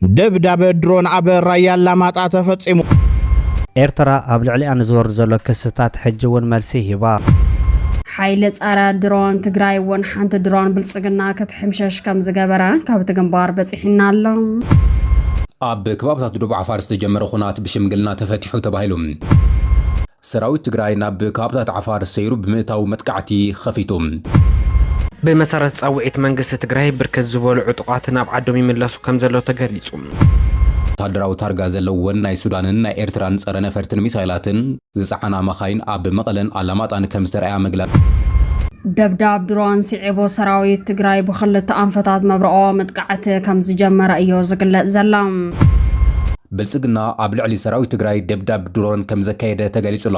ደብዳበ ድሮን ኣብ ራያ ኣላማጣ ተፈጺሙ። ኤርትራ ኣብ ልዕሊኣ ንዝወርድ ዘሎ ክስታት ሕጂ እውን መልሲ ሂባ። ሓይሊ ፀረ ድሮን ትግራይ እውን ሓንቲ ድሮን ብልፅግና ክትሕምሸሽ ከምዝገበረ ካብቲ ግንባር በፂሑና ኣሎ። ኣብ ከባብታት ዶብ ዓፋር ዝተጀመረ ኹናት ብሽምግልና ተፈቲሑ ተባሂሉ። ሰራዊት ትግራይ ናብ ከባብታት ዓፋር ሰይሩ ብምእታው መጥቃዕቲ ኸፊቱ። ብመሰረት ፃውዒት መንግስቲ ትግራይ ብርክት ዝበሉ ዕጡቓት ናብ ዓዶም ይምለሱ ከምዘለው ተገሊፁ። ወታደራዊ ታርጋ ዘለወን ናይ ሱዳንን ናይ ኤርትራን ፀረ ነፈርትን ሚሳይላትን ዝፀዓና መኻይን ኣብ መቐለን ኣላማጣን ከምዝተርኣያ ምግላፅ ደብዳብ ድሮን ስዒቡ ሰራዊት ትግራይ ብኽልተ ኣንፈታት መብረኦ መጥቃዕቲ ከም ዝጀመረ እዩ ዝግለጽ ዘላ። ብልጽግና ኣብ ልዕሊ ሰራዊት ትግራይ ደብዳብ ድሮን ከምዘካየደ ተገሊጹ'ሎ።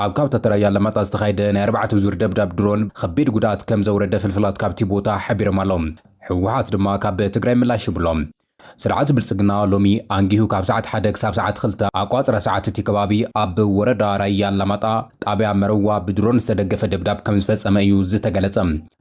ኣብ ካብታት ራያ ኣላማጣ ዝተኻየደ ናይ ኣርባዕተ ዙር ደብዳብ ድሮን ኸቢድ ጉድኣት ከምዘውረደ ፍልፍላት ካብቲ ቦታ ሓቢሮም ኣለው። ህወሓት ድማ ካብ ትግራይ ምላሽ ሂቡ'ሎ። ስርዓት ብልጽግና ሎሚ ኣንጊሁ ካብ ሰዓት ሓደ ክሳብ ሰዓት ኽልተ ኣቋጽራ ሰዓት እቲ ከባቢ ኣብ ወረዳ ራያ ኣላማጣ ጣብያ መረዋ ብድሮን ዝተደገፈ ደብዳብ ከምዝፈጸመ እዩ ዝተገለጸ።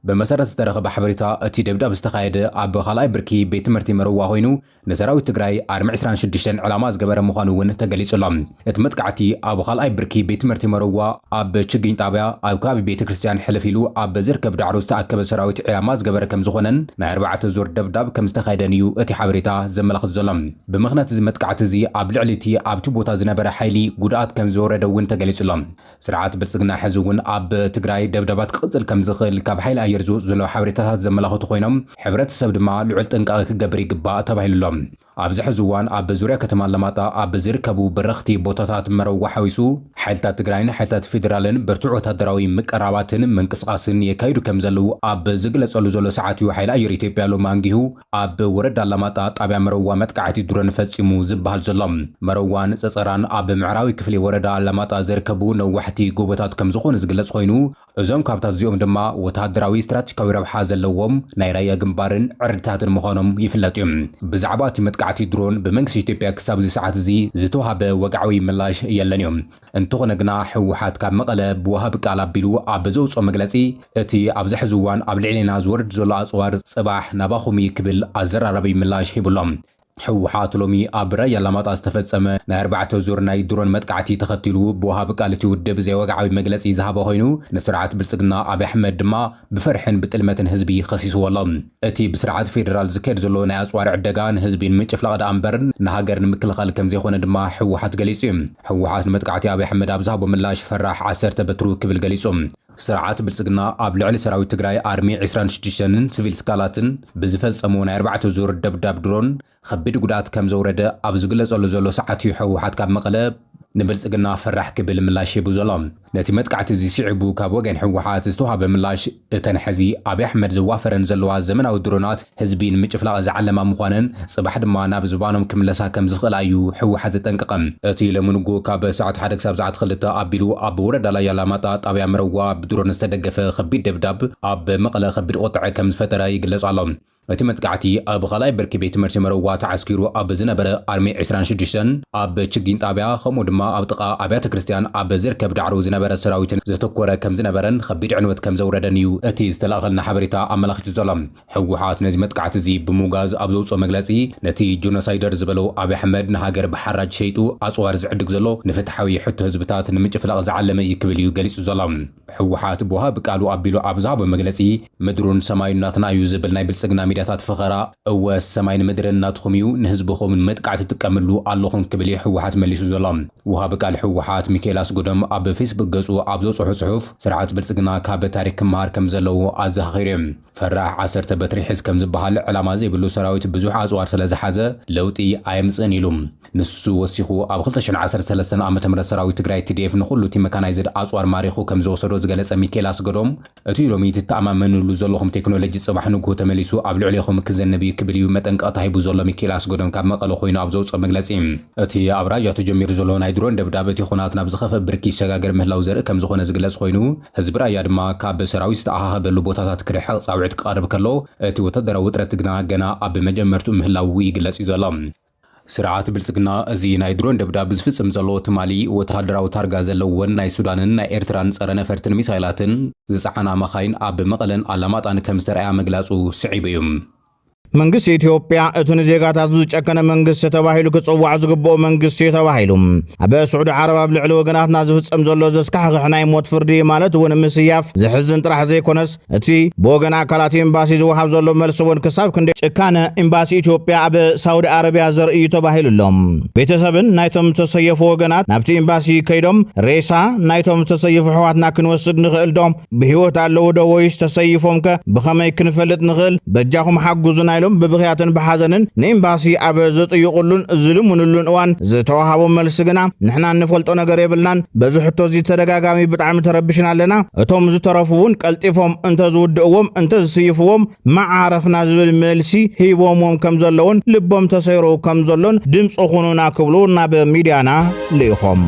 ብመሰረት ዝተረኸበ ሓበሬታ እቲ ደብዳብ ዝተኻየደ ኣብ ኻልኣይ ብርኪ ቤት ትምህርቲ መረዋ ኾይኑ ንሰራዊት ትግራይ ኣርሚ ዕስራን ሽዱሽተን ዕላማ ዝገበረ ምዃኑ እውን ተገሊፁ ኣሎ። እቲ መጥቃዕቲ ኣብ ኻልኣይ ብርኪ ቤት ትምህርቲ መረዋ ኣብ ችግኝ ጣብያ ኣብ ከባቢ ቤተ ክርስትያን ሕልፍ ኢሉ ኣብ ዝርከብ ዳዕሮ ዝተኣከበ ሰራዊት ዒላማ ዝገበረ ከምዝኾነን ናይ ኣርባዕተ ዙር ደብዳብ ከምዝተኻየደን እዩ እቲ ሓበሬታ ዘመላኽት ዘሎ። ብምኽንያት እዚ መጥቃዕቲ እዚ ኣብ ልዕሊ እቲ ኣብቲ ቦታ ዝነበረ ሓይሊ ጉድኣት ከምዝወረደ እውን ተገሊፁ ኣሎ። ስርዓት ብልፅግና ሕዚ እውን ኣብ ትግራይ ደብዳባት ክቕፅል ከምዝኽእል ካብ ሓይሊ ኣየር ዝወፁ ዘለዉ ሓበሬታታት ዘመላኽቱ ኮይኖም ሕብረተሰብ ድማ ልዑል ጥንቃቐ ክገብር ይግባእ ተባሂሉ ኣሎ። ኣብዚ ሕዚ እዋን ኣብ ዙርያ ከተማ ኣላማጣ ኣብ ዝርከቡ በረኽቲ ቦታታት መረዋ ሓዊሱ ሓይልታት ትግራይን ሓይልታት ፌዴራልን ብርቱዕ ወታደራዊ ምቅራባትን ምንቅስቓስን የካይዱ ከምዘለዉ ኣብ ዝግለፀሉ ዘሎ ሰዓት እዩ ሓይሊ ኣየር ኢትዮጵያ ሎሚ ኣንጊሁ ኣብ ወረዳ ኣላማጣ ጣብያ መረዋ መጥቃዕቲ ድሮን ፈፂሙ ዝብሃል ዘሎ። መረዋን ፀፀራን ኣብ ምዕራዊ ክፍሊ ወረዳ ኣላማጣ ዝርከቡ ነዋሕቲ ጎቦታት ከምዝኾኑ ዝግለፅ ኾይኑ እዞም ካብታት እዚኦም ድማ ወታደራዊ ስትራቴጂካዊ ረብሓ ዘለዎም ናይ ራያ ግንባርን ዕርድታትን ምዃኖም ይፍለጥ ዩ። ብዛዕባ እቲ መጥቃዕቲ ድሮን ብመንግስቲ ኢትዮጵያ ክሳብ እዚ ሰዓት እዚ ዝተውሃበ ወግዓዊ ምላሽ የለን ዩ። እንተኾነ ግና ህወሓት ካብ መቐለ ብወሃቢ ቃል ኣቢሉ ኣብ ዘውፅኦ መግለፂ እቲ ኣብዚ ሕዚ እዋን ኣብ ልዕሌና ዝወርድ ዘሎ ኣፅዋር ፅባሕ ናባኹም እዩ ክብል ኣዘራራቢ ምላሽ ሂቡ ኣሎ። ህወሓት ሎሚ ኣብ ራያ ኣላማጣ ዝተፈፀመ ናይ ኣርባዕተ ዙር ናይ ድሮን መጥቃዕቲ ተኸቲሉ ብወሃቢ ቃል እቲ ውድብ ዘይወግዓዊ መግለፂ ዝሃበ ኮይኑ ንስርዓት ብልፅግና ኣብይ ኣሕመድ ድማ ብፍርሕን ብጥልመትን ህዝቢ ከሲስዎ ኣሎ። እቲ ብስርዓት ፌደራል ዝካየድ ዘሎ ናይ ኣጽዋር ዕደጋ ንህዝቢ ንምጭፍላቕ ደኣ እምበር ንሃገር ንምክልኻል ከምዘይኮነ ድማ ህወሓት ገሊጹ እዩ። ህወሓት ንመጥቃዕቲ ኣብይ ኣሕመድ ኣብ ዝሃቦ ምላሽ ፈራሕ ዓሰርተ በትሩ ክብል ገሊጹ። ስርዓት ብልጽግና ኣብ ልዕሊ ሰራዊት ትግራይ ኣርሚ ዕስራን ሽዱሽተንን ስቪል ትካላትን ብዝፈጸሞ ናይ ኣርባዕተ ዙር ደብዳብ ድሮን፣ ኸቢድ ጉድኣት ከም ዘውረደ ኣብ ዝግለፀሉ ዘሎ ሰዓት እዩ ህወሓት ካብ መቐለ ንብልፅግና ፈራሕ ክብል ምላሽ ሂቡ ዘሎ። ነቲ መጥቃዕቲ እዚ ስዒቡ ካብ ወገን ህወሓት ዝተውሃበ ምላሽ እተን ሐዚ ኣብይ ኣሕመድ ዘዋፈረን ዘለዋ ዘመናዊ ድሮናት ህዝቢ ንምጭፍላቕ ዝዓለማ ምዃነን ፅባሕ ድማ ናብ ዝባኖም ክምለሳ ከም ዝኽእላ እዩ ህወሓት ዘጠንቀቐ። እቲ ሎሚ ንጉሆ ካብ ሰዓት ሓደ ክሳብ ሰዓት ኽልተ ኣቢሉ ኣብ ወረዳ ላያ ኣላማጣ ጣብያ መረዋ ብድሮን ዝተደገፈ ኸቢድ ደብዳብ ኣብ መቐለ ኸቢድ ቑጥዐ ከም ዝፈጠረ ይግለፅ ኣሎ። እቲ መጥቃዕቲ ኣብ ኻልኣይ ብርኪ ቤት ትምህርቲ መረዋ ተዓስኪሩ ኣብ ዝነበረ ኣርሚ ዕስራን ሽዱሽተን ኣብ ችግኝ ጣብያ ከምኡ ድማ ኣብ ጥቓ ኣብያተ ክርስትያን ኣብ ዝርከብ ዳዕሮ ዝነበረ ሰራዊትን ዘተኮረ ከምዝነበረን ኸቢድ ዕንወት ከምዘውረደን እዩ እቲ ዝተላኣኸልና ሓበሬታ ኣመላኺቱ ዘሎ። ህወሓት ነዚ መጥቃዕቲ እዚ ብምውጋዝ ኣብ ዘውፅኦ መግለፂ ነቲ ጆኖሳይደር ዝበሎ ኣብይ ኣሕመድ ንሃገር ብሓራጅ ሸይጡ ኣፅዋር ዝዕድግ ዘሎ ንፍትሓዊ ሕቶ ህዝብታት ንምጭፍላቕ ዝዓለመ እዩ ክብል እዩ ገሊፁ ዘሎ። ህወሓት ብወሃቢ ቃሉ ኣቢሉ ኣብ ዝሃቦ መግለጺ፣ ምድሩን ሰማዩን ናትና እዩ ዝብል ናይ ብልጽግና ሚድያታት ፈኸራ፣ እወ ሰማይን ምድርን ናትኹም እዩ፣ ንህዝብኹም ንመጥቃዕቲ ትጥቀምሉ ኣለኹም ክብል እዩ ህወሓት መሊሱ ዘሎ። ወሃቢ ቃል ህወሓት ሚካኤል ኣስገዶም ኣብ ፌስቡክ ገጹ ኣብ ዘውጽሖ ጽሑፍ፣ ስርዓት ብልጽግና ካብ ታሪክ ክመሃር ከምዘለዎ ኣዘኻኺሩ እዩ። ፈራሕ ዓሰርተ በትሪ ሕዝ ከምዝበሃል ዕላማ ዘይብሉ ሰራዊት ብዙሕ ኣጽዋር ስለዝሓዘ ለውጢ ኣየምጽእን ኢሉ። ንሱ ወሲኹ፣ ኣብ ክልተ ሽሕን ዓሰርተ ሰለስተን ዓመተ ምህረት ሰራዊት ትግራይ፣ tdf፣ ንኹሉ እቲ መካናይዝድ ኣጽዋር ማሪኹ ከምዝወሰዶ ዝገለጸ ሚኪኤል ኣስገዶም፣ እቲ ሎሚ ትተኣማመንሉ ዘለኹም ቴክኖሎጂ ጽባሕ ንግሆ ተመሊሱ ኣብ ልዕሌኹም ክዘንብ እዩ ክብል እዩ መጠንቀቕታ ሂቡ ዘሎ ሚኪኤል ኣስገዶም ካብ መቐለ ኮይኑ ኣብ ዘውጽኦ መግለጺ። እቲ ኣብ ራያ ተጀሚሩ ዘሎ ናይ ድሮን ደብዳብ እቲ ኹናት ናብ ዝኸፍእ ብርኪ ይሰጋገር ምህላው ዘርኢ ከምዝኾነ ዝግለጽ ኾይኑ፣ ህዝቢ ራያ ድማ ካብ ሰራዊት ዝተኣኻኸበሉ ቦታታት ክርሕቕ ጻውዒት ክቐርብ ከሎ፣ እቲ ወታደራዊ ውጥረት ግና ገና ኣብ መጀመርትኡ ምህላዉ ይግለጽ እዩ ዘሎ። ስርዓት ብልጽግና እዚ ናይ ድሮን ደብዳብ ዝፍጽም ዘሎ ትማሊ ወተሃደራዊ ታርጋ ዘለወን ናይ ሱዳንን ናይ ኤርትራን ጸረ ነፈርትን ሚሳይላትን ዝጸዓና መኻይን ኣብ መቐለን ኣላማጣን ከም ዝተርኣያ ምግላጹ ስዒቡ እዩ። መንግስቲ ኢትዮጵያ እቲ ንዜጋታቱ ዝጨከነ መንግስቲ ተባሂሉ ክጽዋዕ ዝግብኦ መንግስቲ እዩ ተባሂሉ ኣብ ስዑዲ ዓረብ ኣብ ልዕሊ ወገናትና ዝፍጸም ዘሎ ዘስካሕኽሕ ናይ ሞት ፍርዲ ማለት እውን ምስያፍ ዘሕዝን ጥራሕ ዘይኮነስ እቲ ብወገን ኣካላት ኤምባሲ ዝወሃብ ዘሎ መልሲ እውን ክሳብ ክንደይ ጭካነ ኤምባሲ ኢትዮጵያ ኣብ ሳውዲ ኣረቢያ ዘርኢ እዩ ተባሂሉ ኣሎ። ቤተሰብን ናይቶም ዝተሰየፉ ወገናት ናብቲ ኤምባሲ ከይዶም ሬሳ ናይቶም ዝተሰየፉ ኣሕዋትና ክንወስድ ንኽእል ዶ? ብህይወት ኣለዉ ዶ ወይስ ተሰይፎም ከ ብኸመይ ክንፈልጥ ንኽእል? በጃኹም ሓግዙና ኢሎም ብብኽያትን ብሓዘንን ንኤምባሲ ኣብ ዝጥይቑሉን ዝልምንሉን እዋን ዝተወሃቦም መልሲ ግና ንሕና እንፈልጦ ነገር የብልናን፣ በዚ ሕቶ እዚ ተደጋጋሚ ብጣዕሚ ተረብሽና ኣለና። እቶም ዝተረፉ እውን ቀልጢፎም እንተዝውድእዎም እንተዝስይፍዎም ምዓረፍና ዝብል መልሲ ሂቦምዎም ከም ዘለዉን ልቦም ተሰይሩ ከም ዘሎን ድምፂ ኩኑና ክብሉ ናብ ሚድያና ልኢኾም።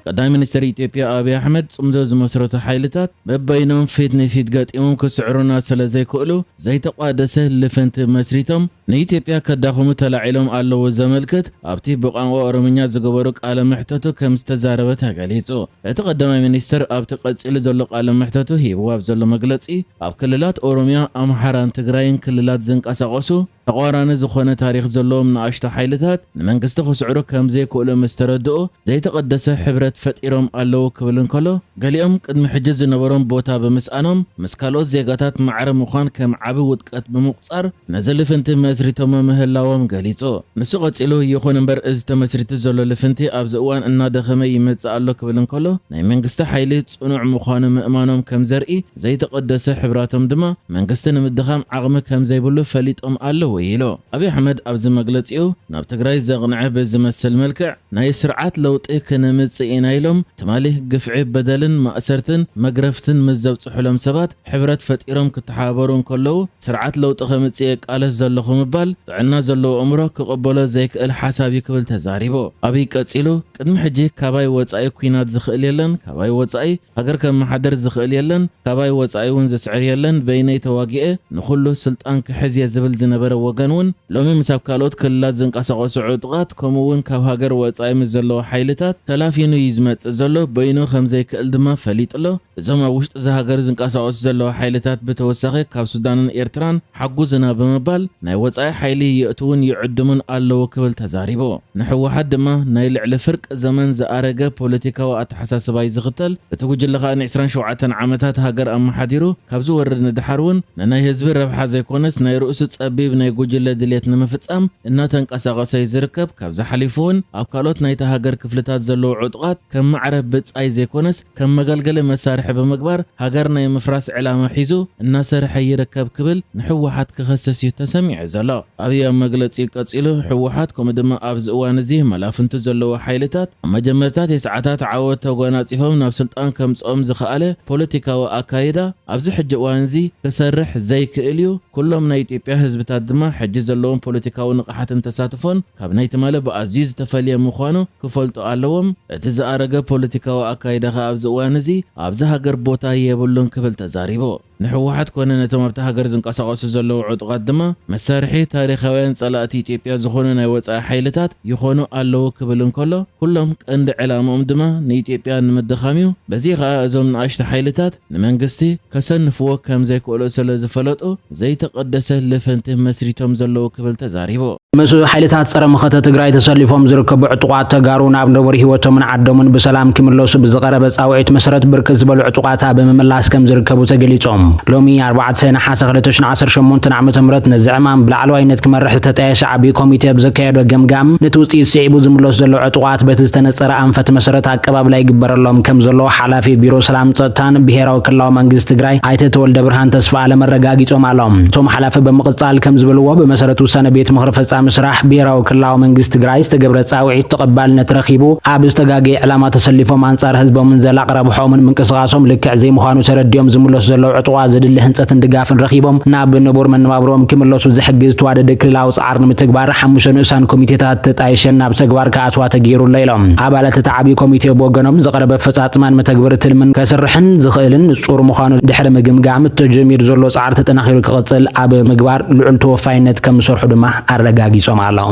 ቀዳማይ ሚኒስተር ኢትዮጵያ ኣብይ ኣሕመድ ጽምዶ ዝመስረቱ ሓይልታት በበይኖም ፊት ንፊት ገጢሞም ክስዕሩና ስለ ዘይክእሉ ዘይተቋደሰ ልፍንቲ መስሪቶም ንኢትዮጵያ ከዳኽሙ ተላዒሎም ኣለዉ ዘመልክት ኣብቲ ብቋንቋ ኦሮምኛ ዝገበሮ ቃለ መሕተቱ ከም ዝተዛረበ ተገሊጹ። እቲ ቀዳማይ ሚኒስተር ኣብቲ ቀጺሉ ዘሎ ቃለ መሕተቱ ሂብዎ ኣብ ዘሎ መግለጺ፣ ኣብ ክልላት ኦሮምያ፣ ኣምሓራን ትግራይን ክልላት ዝንቀሳቐሱ ተቋራኒ ዝኾነ ታሪኽ ዘለዎም ንኣሽቱ ሓይልታት ንመንግስቲ ክስዕሩ ከም ዘይክእሉ ምስ ተረድኡ፣ ዘይተቐደሰ ሕብረት ፈጢሮም ኣለዉ ክብል እንከሎ፣ ገሊኦም ቅድሚ ሕጂ ዝነበሮም ቦታ ብምስኣኖም ምስ ካልኦት ዜጋታት ማዕረ ምዃን ከም ዓቢ ውድቀት ብምቑጻር ነዚ ልፍንቲ መስሪቶሞ ምህላዎም ገሊጹ። ንሱ ቀጺሉ፣ ይኹን እምበር እዚ ተመስሪቱ ዘሎ ልፍንቲ ኣብዚ እዋን እናደኸመ ይመጽእ ኣሎ ክብል እንከሎ፣ ናይ መንግስቲ ሓይሊ ጽኑዕ ምዃኑ ምእማኖም ከም ዘርኢ፣ ዘይተቐደሰ ሕብራቶም ድማ መንግስቲ ንምድኻም ዓቕሚ ከምዘይብሉ ፈሊጦም ኣለዉ ኢሉ። ኣብይ ኣሕመድ ኣብዚ መግለጺኡ ናብ ትግራይ ዘቕንዐ ብዝመስል መልክዕ ናይ ስርዓት ለውጢ ክነምጽእ ኢና ኢሎም ትማሊ ግፍዒ በደልን ማእሰርትን መግረፍትን ምስ ዘብጽሑሎም ሰባት ሕብረት ፈጢሮም ክተሓባበሩ እንከለዉ ስርዓት ለውጢ ከምጽእ እየ እቃለስ ዘለኹ ምባል ጥዕና ዘለዎ ኣእምሮ ክቕበሎ ዘይክእል ሓሳብ እዩ ክብል ተዛሪቡ። ኣብይ ቀጺሉ ቅድሚ ሕጂ ካባይ ወጻኢ ኲናት ዝኽእል የለን ካባይ ወጻኢ ሃገር ከመሓድር ዝኽእል የለን ካባይ ወጻኢ ውን ዝስዕር የለን በይነይ ተዋጊኤ ንኹሉ ስልጣን ክሕዝ እየ ዝብል ዝነበረ ወገን ውን ሎሚ ምስ ኣብ ካልኦት ክልላት ዝንቀሳቐሱ ዕጡቓት ከምኡ ውን ካብ ሃገር ወጻኢ ምስ ዘለዉ ሓይልታት ተላፊኑ እዩ ዝመጽእ ዘሎ በይኑ ከምዘይክእል ድማ ፈሊጡ ኣሎ እዞም ኣብ ውሽጢ እዛ ሃገር ዝንቀሳቐሱ ዘለዉ ሓይልታት ብተወሳኺ ካብ ሱዳንን ኤርትራን ሓጉዝና ብምባል ናይ ወጻኢ ሓይሊ የእትዉን ይዕድሙን ኣለዉ ክብል ተዛሪቡ። ንህወሓት ድማ ናይ ልዕሊ ፍርቂ ዘመን ዝኣረገ ፖለቲካዊ ኣተሓሳስባ'ዩ ዝኽተል፣ እቲ ጉጅለ ከኣ ንዕስራን ሸውዓተን ዓመታት ሃገር ኣመሓዲሩ ካብ ዝወርድ ንደሓር ውን ንናይ ህዝቢ ረብሓ ዘይኮነስ ናይ ርእሱ ጸቢብ ናይ ጉጅለ ድልየት ንምፍጻም እናተንቀሳቐሰ'ዩ ዝርከብ፣ ካብዚ ሓሊፉ ውን ኣብ ካልኦት ናይታ ሃገር ክፍልታት ዘለዉ ዕጡቓት ከም ማዕረ ብጻይ ዘይኮነስ ከም መገልገሊ መሳርሒ ብምግባር ሃገር ናይ ምፍራስ ዕላማ ሒዙ እናሰርሐ ይርከብ ክብል ንሕወሓት ክኸስስ እዩ ተሰሚዑ ዘሎ። ኣብይ ኣብ መግለፂኡ ቀፂሉ ሕወሓት ከምኡ ድማ ኣብዚ እዋን እዚ መላፍንቱ ዘለዎ ሓይልታት ኣብ መጀመርታ ቴስዓታት ዓወት ተጓናፂፎም ናብ ስልጣን ከምፅኦም ዝኸኣለ ፖለቲካዊ ኣካይዳ ኣብዚ ሕጂ እዋን እዚ ክሰርሕ ዘይክእል እዩ፣ ኩሎም ናይ ኢትዮጵያ ህዝብታት ድማ ሕጂ ዘለዎም ፖለቲካዊ ንቕሓትን ተሳትፎን ካብ ናይ ትማሊ ብኣዝዩ ዝተፈልየ ምዃኑ ክፈልጡ ኣለዎም፣ እቲ ዝኣረገ ፖለቲካዊ ኣካይዳ ከኣ ኣብዚ እዋን እዚ ኣብዛ ሃገር ቦታ የብሉን ክብል ተዛሪቡ። ንህወሓት ኮነ ነቶም ኣብታ ሃገር ዝንቀሳቐሱ ዘለዉ ዕጡቓት ድማ መሳርሒ ታሪኻውያን ጸላእቲ ኢትዮጵያ ዝኾኑ ናይ ወጻኢ ሓይልታት ይኾኑ ኣለዉ ክብል እንከሎ፣ ኩሎም ቀንዲ ዕላምኦም ድማ ንኢትዮጵያ ንምድኻም እዩ፣ በዚ ከኣ እዞም ንኣሽቱ ሓይልታት፣ ንመንግስቲ ከሰንፍዎ ከም ዘይክእሉ ስለ ዝፈለጡ ዘይተቐደሰ ልፍንቲ መስሪቶም ዘለዉ ክብል ተዛሪቡ። ምስ ሓይልታት ፀረ መኸተ ትግራይ ተሰሊፎም ዝርከቡ ዕጡቓት ተጋሩ ናብ ነቡር ህይወቶምን ዓዶምን ብሰላም ክምለሱ ብዝቐረበ ፃውዒት መሰረት ብርክት ዝበሉ ዕጡቓት ኣብ ምምላስ ከም ዝርከቡ ተገሊፆም። ሎሚ ኣርባዕተ ነሓሰ ክልተ ሽሕን ዓሰርተ ሸሞንተን ዓመተ ምህረት ነዚ ዕማም ብላዕለዋይነት ክመርሕ ዝተጣየሸ ዓብዪ ኮሚቴ ብዘካየዶ ገምጋም ነቲ ውፅኢት ስዒቡ ዝምለሱ ዘለዉ ዕጡቓት በቲ ዝተነፀረ ኣንፈት መሰረት ኣቀባብላ ይግበረሎም ከምዘሎ ሓላፊ ቢሮ ሰላም ፀጥታን ብሄራዊ ክልላዊ መንግስቲ ትግራይ ኣይተ ተወልደብርሃን ተስፋኣለም ኣረጋጊፆም ኣሎም። እቶም ሓላፊ ብምቕፃል ከምዝበልዎ ብመሰረት ውሳነ ቤት ምኽሪ ፈፃሚ ስራሕ ብሄራዊ ክልላዊ መንግስቲ ትግራይ ዝተገብረ ፃውዒት ተቐባልነት ረኺቡ ኣብ ዝተጋገየ ዕላማ ተሰሊፎም ኣንፃር ህዝቦምን ዘላቒ ረብሐኦምን ምንቅስቓሶም ልክዕ ዘይምዃኑ ተረዲኦም ዝምለሱ ዘለዉ ዕጡቓት ዘድሊ ህንፀትን ድጋፍን ረኺቦም ናብ ንቡር መነባብሮኦም ክምለሱ ዝሕግዝ ተዋደደ ክልላዊ ፃዕሪ ንምትግባር ሓሙሽተ ንኡሳን ኮሚቴታት ተጣይሸን ናብ ተግባር ኣተኣትዋ ተገይሩ ኣሎ ኢሎም። ኣባላት እቲ ዓብዪ ኮሚቴ ብወገኖም ዝቐረበ ኣፈፃፅማን መተግበሪ ትልምን ከስርሕን ዝኽእልን ንፁር ምዃኑ ድሕሪ ምግምጋም ተጀሚሩ ዘሎ ፃዕሪ ተጠናኺሩ ክቕፅል ኣብ ምግባር ልዑል ተወፋይነት ከምዝሰርሑ ድማ ኣረጋጊፆም ኣለው።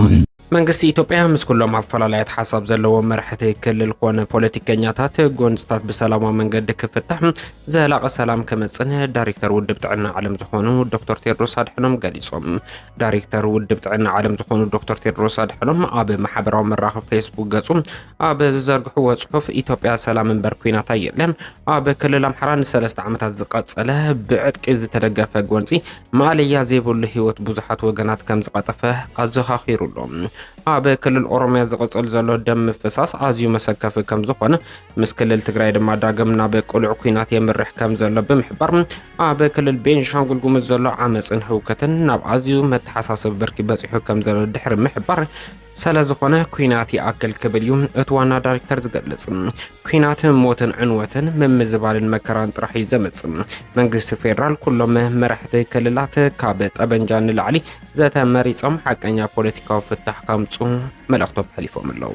መንግስቲ ኢትዮጵያ ምስ ኩሎም ኣፈላላያት ሓሳብ ዘለዎም መራሕቲ ክልል ኮነ ፖለቲከኛታት ጎንፅታት ብሰላማዊ መንገዲ ክፍታሕ ዘላቒ ሰላም ክመፅን ዳይሬክተር ውድብ ጥዕና ዓለም ዝኾኑ ዶክተር ቴድሮስ ኣድሐኖም ገሊፆም። ዳይሬክተር ውድብ ጥዕና ዓለም ዝኾኑ ዶክተር ቴድሮስ ኣድሐኖም ኣብ ማሕበራዊ መራኸቢ ፌስቡክ ገጹ ኣብ ዝዘርግሕዎ ጽሑፍ ኢትዮጵያ ሰላም እምበር ኩናት ኣየለን፣ ኣብ ክልል ኣምሓራ ንሰለስተ ዓመታት ዝቐጸለ ብዕጥቂ ዝተደገፈ ጎንጺ ማእለያ ዘይብሉ ህይወት ብዙሓት ወገናት ከም ዝቐጠፈ ኣዘኻኺሩ ኣሎ። ኣብ ክልል ኦሮምያ ዝቕጽል ዘሎ ደም ምፍሳስ ኣዝዩ መሰከፊ ከም ዝኾነ ምስ ክልል ትግራይ ድማ ዳግም ናብ ቅሉዕ ኩናት የምርሕ ከም ዘሎ ብምሕባር ኣብ ክልል ቤንሻንጉል ጉሙዝ ዘሎ ዓመፅን ህውከትን ናብ ኣዝዩ መተሓሳሰቢ ብርኪ በፂሑ ከም ዘሎ ድሕሪ ምሕባር ስለ ዝኾነ ኩናት ይኣክል ክብል እዩ እቲ ዋና ዳይሬክተር ዝገልጽ። ኩናት ሞትን ዕንወትን ምምዝባልን መከራን ጥራሕ እዩ ዘመጽእ። መንግስቲ ፌዴራል ኩሎም መራሕቲ ክልላት ካብ ጠበንጃ ንላዕሊ ዘተ መሪጾም ሓቀኛ ፖለቲካዊ ፍታሕ ከምፁ መልእኽቶም ሓሊፎም ኣለዉ።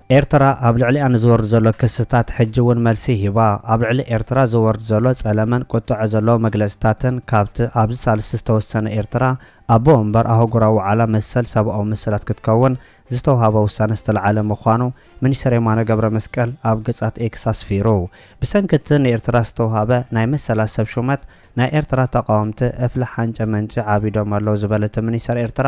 ኤርትራ ኣብ ልዕሊኣ ንዝወርድ ዘሎ ክስታት ሕጂ እውን መልሲ ሂባ። ኣብ ልዕሊ ኤርትራ ዝወርድ ዘሎ ጸለመን ቁጠዐ ዘለዎ መግለጽታትን ካብቲ ኣብዚ ሳልስቲ ዝተወሰነ ኤርትራ ኣቦ ወንበር ኣህጉራዊ ዋዕላ መሰል ሰብኣዊ መሰላት ክትከውን ዝተውሃባ ውሳነ ዝተልዓለ ምዃኑ ሚኒስተር የማነ ገብረመስቀል ኣብ ገጻት ኤክስ ኣስፊሩ። ብሰንኪ እቲ ንኤርትራ ዝተውሃበ ናይ መሰላት ሰብ ሹመት ናይ ኤርትራ ተቓወምቲ እፍሊ ሓንጨ መንጨ ዓቢዶም ኣለዉ ዝበለ እቲ ሚኒስተር ኤርትራ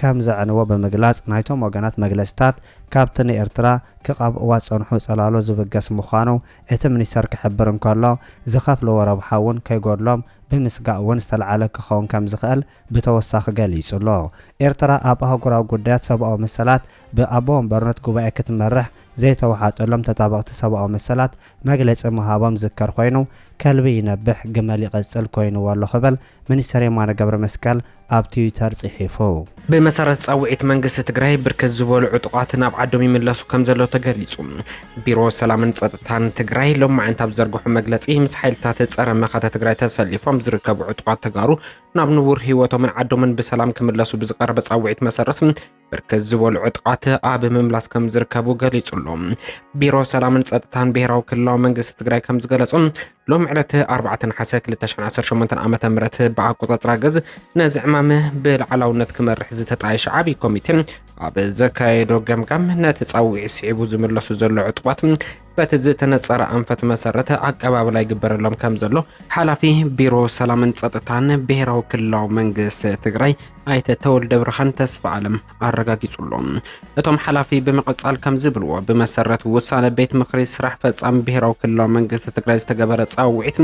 ከም ዘዕንዎ ብምግላጽ ናይቶም ወገናት መግለጺታት ካብቲ ንኤርትራ ክቐብእዋ ዝጸንሑ ጽላሎ ዝብገስ ምዃኑ እቲ ሚኒስተር ክሕብር እንከሎ ዝኸፍልዎ ረብሓ እውን ከይጎድሎም ብምስጋእ እውን ዝተልዓለ ክኸውን ከም ዝኽእል ብተወሳኺ ገሊጹ ኣሎ። ኤርትራ ኣብ ኣህጉራዊ ጉዳያት ሰብኣዊ መሰላት ብኣቦ ወንበርነት ጉባኤ ክትመርሕ ዘይተወሓጠሎም ተጣበቕቲ ሰብኣዊ መሰላት መግለጺ ምሃቦም ዝዝከር ኮይኑ ከልቢ ይነብሕ ግመል ይቕጽል ኮይንዎ ኣሎ ክብል ሚኒስተር የማነ ገብረመስቀል ኣብ ትዊተር ፅሒፉ። ብመሰረት ፃውዒት መንግስቲ ትግራይ ብርክት ዝበሉ ዕጡቓት ናብ ዓዶም ይምለሱ ከምዘለዉ ተገሊፁ። ቢሮ ሰላምን ፀጥታን ትግራይ ሎማዕንቲ ኣብ ዝዘርግሖ መግለፂ ምስ ሓይልታት ፀረ መኸተ ትግራይ ተሰሊፎም ዝርከቡ ዕጡቓት ተጋሩ ናብ ንቡር ህይወቶምን ዓዶምን ብሰላም ክምለሱ ብዝቐረበ ፃውዒት መሰረት ብርክት ዝበሉ ዕጥቃት ኣብ ምምላስ ከም ዝርከቡ ገሊጹ ኣሎ። ቢሮ ሰላምን ጸጥታን ብሄራዊ ክልላዊ መንግስቲ ትግራይ ከም ዝገለጾ ሎም ዕለት 4 ነሓሰ 2018 ዓ ም ብኣቆጻጽራ ገዝ ነዚ ዕማም ብላዕላውነት ክመርሕ ዝተጣየሸ ዓብዪ ኮሚቴ ኣብ ዘካየዶ ገምጋም ነቲ ጻውዒት ስዒቡ ዝምለሱ ዘሎ ዕጡቋት በቲ ዝተነፀረ ኣንፈት መሰረት ኣቀባብላ ይግበረሎም ከም ዘሎ ሓላፊ ቢሮ ሰላምን ፀጥታን ብሄራዊ ክልላዊ መንግስቲ ትግራይ ኣይተ ተወልደ ብርሃን ተስፋ ኣለም ኣረጋጊጹ ኣሎ። እቶም ሓላፊ ብምቕጻል ከም ዝብልዎ ብመሰረት ውሳነ ቤት ምክሪ ስራሕ ፈጻሚ ብሄራዊ ክልላዊ መንግስቲ ትግራይ ዝተገበረ ጻውዒት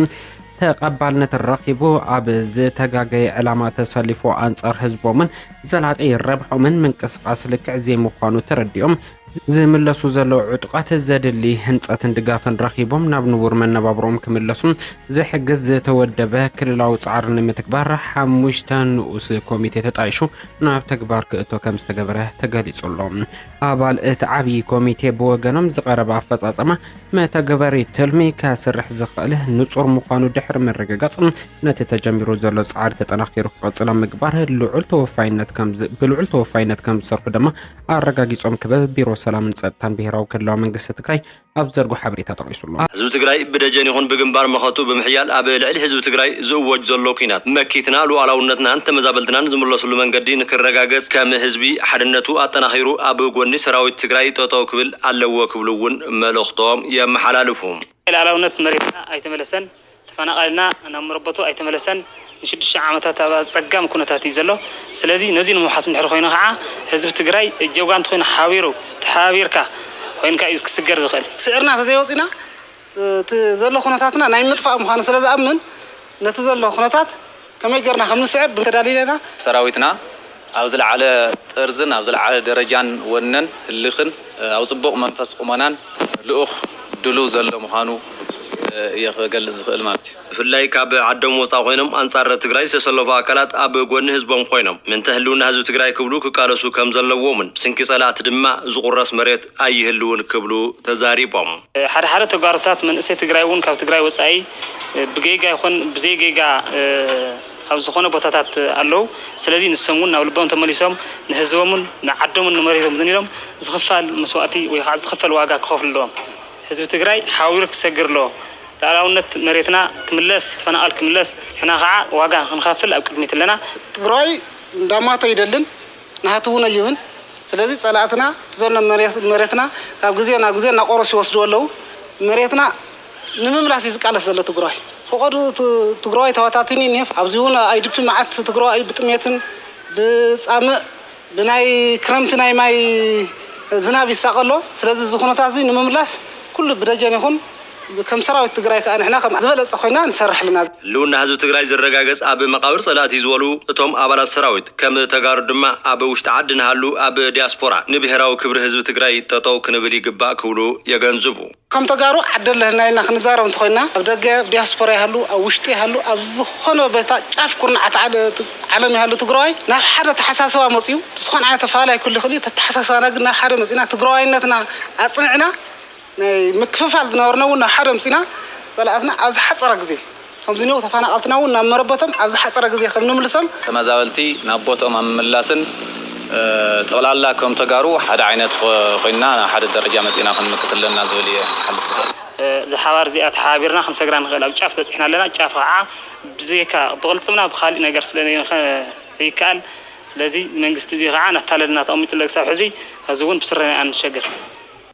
ተቐባልነት ረኺቡ ኣብ ዝተጋገየ ዕላማ ተሰሊፎ ኣንጻር ህዝቦምን ዘላቂ ረብሖምን ምንቅስቓስ ልክዕ ዘይምዃኑ ተረዲኦም ዝምለሱ ዘለዉ ዕጡቓት ዘድሊ ህንፀትን ድጋፍን ረኺቦም ናብ ንቡር መነባብሮኦም ክምለሱ ዝሕግዝ ዝተወደበ ክልላዊ ፃዕሪ ንምትግባር ሓሙሽተ ንኡስ ኮሚቴ ተጣይሹ ናብ ተግባር ክእቶ ከም ዝተገበረ ተገሊጹ ኣሎ። ኣባል እቲ ዓብዪ ኮሚቴ ብወገኖም ዝቐረበ ኣፈፃፀማ መተግበሪ ትልሚ ከስርሕ ዝኽእል ንፁር ምዃኑ ድሕሪ ምርግጋፅ ነቲ ተጀሚሩ ዘሎ ፃዕሪ ተጠናኺሩ ክቐፅል ኣብ ምግባር ልዑል ተወፋይነት ብልዑል ተወፋይነት ከም ዝሰርሑ ድማ ኣረጋጊፆም ክብል ቢሮ ሰላምን ፀጥታን ብሄራዊ ክልላዊ መንግስቲ ትግራይ ኣብ ዝዘርጎ ሓበሬታ ጠቒሱ ኣሎ። ህዝቢ ትግራይ ብደጀን ይኹን ብግንባር መኸቱ ብምሕያል ኣብ ልዕሊ ህዝቢ ትግራይ ዝእወጅ ዘሎ ኲናት መኪትና ሉኣላውነትናን ተመዛበልትናን ዝምለስሉ መንገዲ ንክረጋገፅ ከም ህዝቢ ሓድነቱ ኣጠናኺሩ ኣብ ጎኒ ሰራዊት ትግራይ ጠጠው ክብል ኣለዎ ክብሉ እውን መልእኽቶም የመሓላልፉ። ሉኣላውነት መሬትና ኣይተመለሰን፣ ተፈናቓሊና ናብ መረበቱ ኣይተመለሰን፣ ንሽዱሽተ ዓመታት ኣብ ኣፀጋሚ ኩነታት እዩ ዘሎ። ስለዚ ነዙይ ንምውሓስ እንድሕር ኾይኑ ከዓ ህዝቢ ትግራይ እጀ ጓንቲ ኾይኑ ሓቢሩ፣ ተሓባቢርካ፣ ኾይንካ እዩ ክስገር ዝኽእል። ስዒርና ተዘይወፂእና እቲ ዘሎ ኩነታትና ናይ ምጥፋእ ምዃኑ ስለዝኣምን ነቲ ዘሎ ኩነታት ከመይ ጌርና ከም ንስዕር ብምተዳሊለ ኢና። ሰራዊትና ኣብ ዝለዓለ ጥርዝን ኣብ ዝለዓለ ደረጃን ወነን ህልኽን ኣብ ጽቡቕ መንፈስ ቁመናን ልኡኽ ድሉው ዘሎ ምዃኑ እየ ክገልጽ ዝኽእል ማለት እዩ። ብፍላይ ካብ ዓዶም ወጻእ ኮይኖም ኣንጻር ትግራይ ዝተሰለፉ ኣካላት ኣብ ጎኒ ህዝቦም ኮይኖም ምእንተ ህልውና ህዝቢ ትግራይ ክብሉ ክቃለሱ ከም ዘለዎምን ብስንኪ ጸላእቲ ድማ ዝቑረስ መሬት ኣይህልውን ክብሉ ተዛሪቦም። ሓደ ሓደ ተጋሩታት መንእሰይ ትግራይ እውን ካብ ትግራይ ወፃኢ ብጌጋ ይኹን ብዘይጌጋ ኣብ ዝኾነ ቦታታት ኣለው። ስለዚ ንሶም እውን ናብ ልቦም ተመሊሶም ንህዝቦምን ንዓዶምን ንመሬቶምትን ኢሎም ዝኽፋል መስዋእቲ ወይ ከዓ ዝኽፈል ዋጋ ክኸፍሉ ኣለዎም። ህዝቢ ትግራይ ሓዊሩ ክሰግር ኣለዎ። ልኣላውነት መሬትና ክምለስ፣ ተፈናቐል ክምለስ፣ ንሕና ከዓ ዋጋ ክንኸፍል ኣብ ቅድሚት ኣለና። ትግራይ እንዳማተ ኣይደልን። ናህቲ እውን ኣይብን ስለዚ ፀላእትና ዘሎ መሬትና ካብ ግዜ ናብ ግዜ እናቆረሱ ይወስድዎ ኣለው መሬትና ንምምላስ እዩ ዝቃለስ ዘሎ ትግራዋይ ፈቀድኡ ትግራዋይ ተባታቲኑ እዩ እኒሀ ኣብዚ እውን ኣይዲፒ መዓት ትግራዋይ ብጥሜትን ብፃምእ ብናይ ክረምቲ ናይ ማይ ዝናብ ይሳቀ ኣሎ ስለዚ እዚ ኩነታት እዚ ንምምላስ ኩሉ ብደጀን ይኩን ከም ሰራዊት ትግራይ ከኣ ንሕና ከም ዝበለጸ ኮይና ንሰርሕ ኣለና። ህልውና ህዝቢ ትግራይ ዝረጋገጽ ኣብ መቓብር ጸላእቲ እዩ ዝበሉ እቶም ኣባላት ሰራዊት፣ ከም ተጋሩ ድማ ኣብ ውሽጢ ዓዲ ንሃሉ ኣብ ዲያስፖራ ንብሄራዊ ክብሪ ህዝቢ ትግራይ ጠጠው ክንብል ይግባእ ክብሉ የገንዝቡ። ከም ተጋሩ ዓደ'ለህና ኢልና ክንዛረብ እንተኾይንና ኣብ ደገ፣ ኣብ ዲያስፖራ ይሃሉ ኣብ ውሽጢ ይሃሉ ኣብ ዝኾነ ቦታ ጫፍ ኩርናዓት ዓለም ይሃሉ ትግራዋይ ናብ ሓደ ኣተሓሳስባ መጺኡ ዝኾነ ዓይነት ኣፈላላይ ክህሉ ይኽእል እዩ እቲ ኣተሓሳስባና ግን ናብ ሓደ መጺእና ትግራዋይነትና ኣጽኒዕና ናይ ምክፍፋል ዝነበርና እውን ናብ ሓደ ኣምፂእና ፀላእትና ኣብ ዝሓፀረ ግዜ ከምዝኒኦው ተፋናቀልትና እውን ናብ መረበቶም ኣብ ዝሓፀረ ግዜ ከምንምልሶም ተመዛበልቲ ናብ ቦትኦም ኣብ ምምላስን ጠቅላላ ከም ተጋሩ ሓደ ዓይነት ኮይንና ናብ ሓደ ደረጃ መፂእና ክንምክት ኣለና ዝብል እየ ክሓልፍ ዝደሊ። እዛ ሓባር እዚኣ ተሓባቢርና ክንሰግራ ንክእል ኣብ ጫፍ በፂሕና ኣለና ጫፍ ከዓ ብዘይካ ብቅልፅምና ብካሊእ ነገር ስለዘይንክእል ዘይከኣል ስለዚ መንግስቲ እዙይ ከዓ እናታለለና ተቀሚጡ ኣሎ ክሳብ ሕዚ ሕዚ እውን ብስረና ኢና ንሸገር።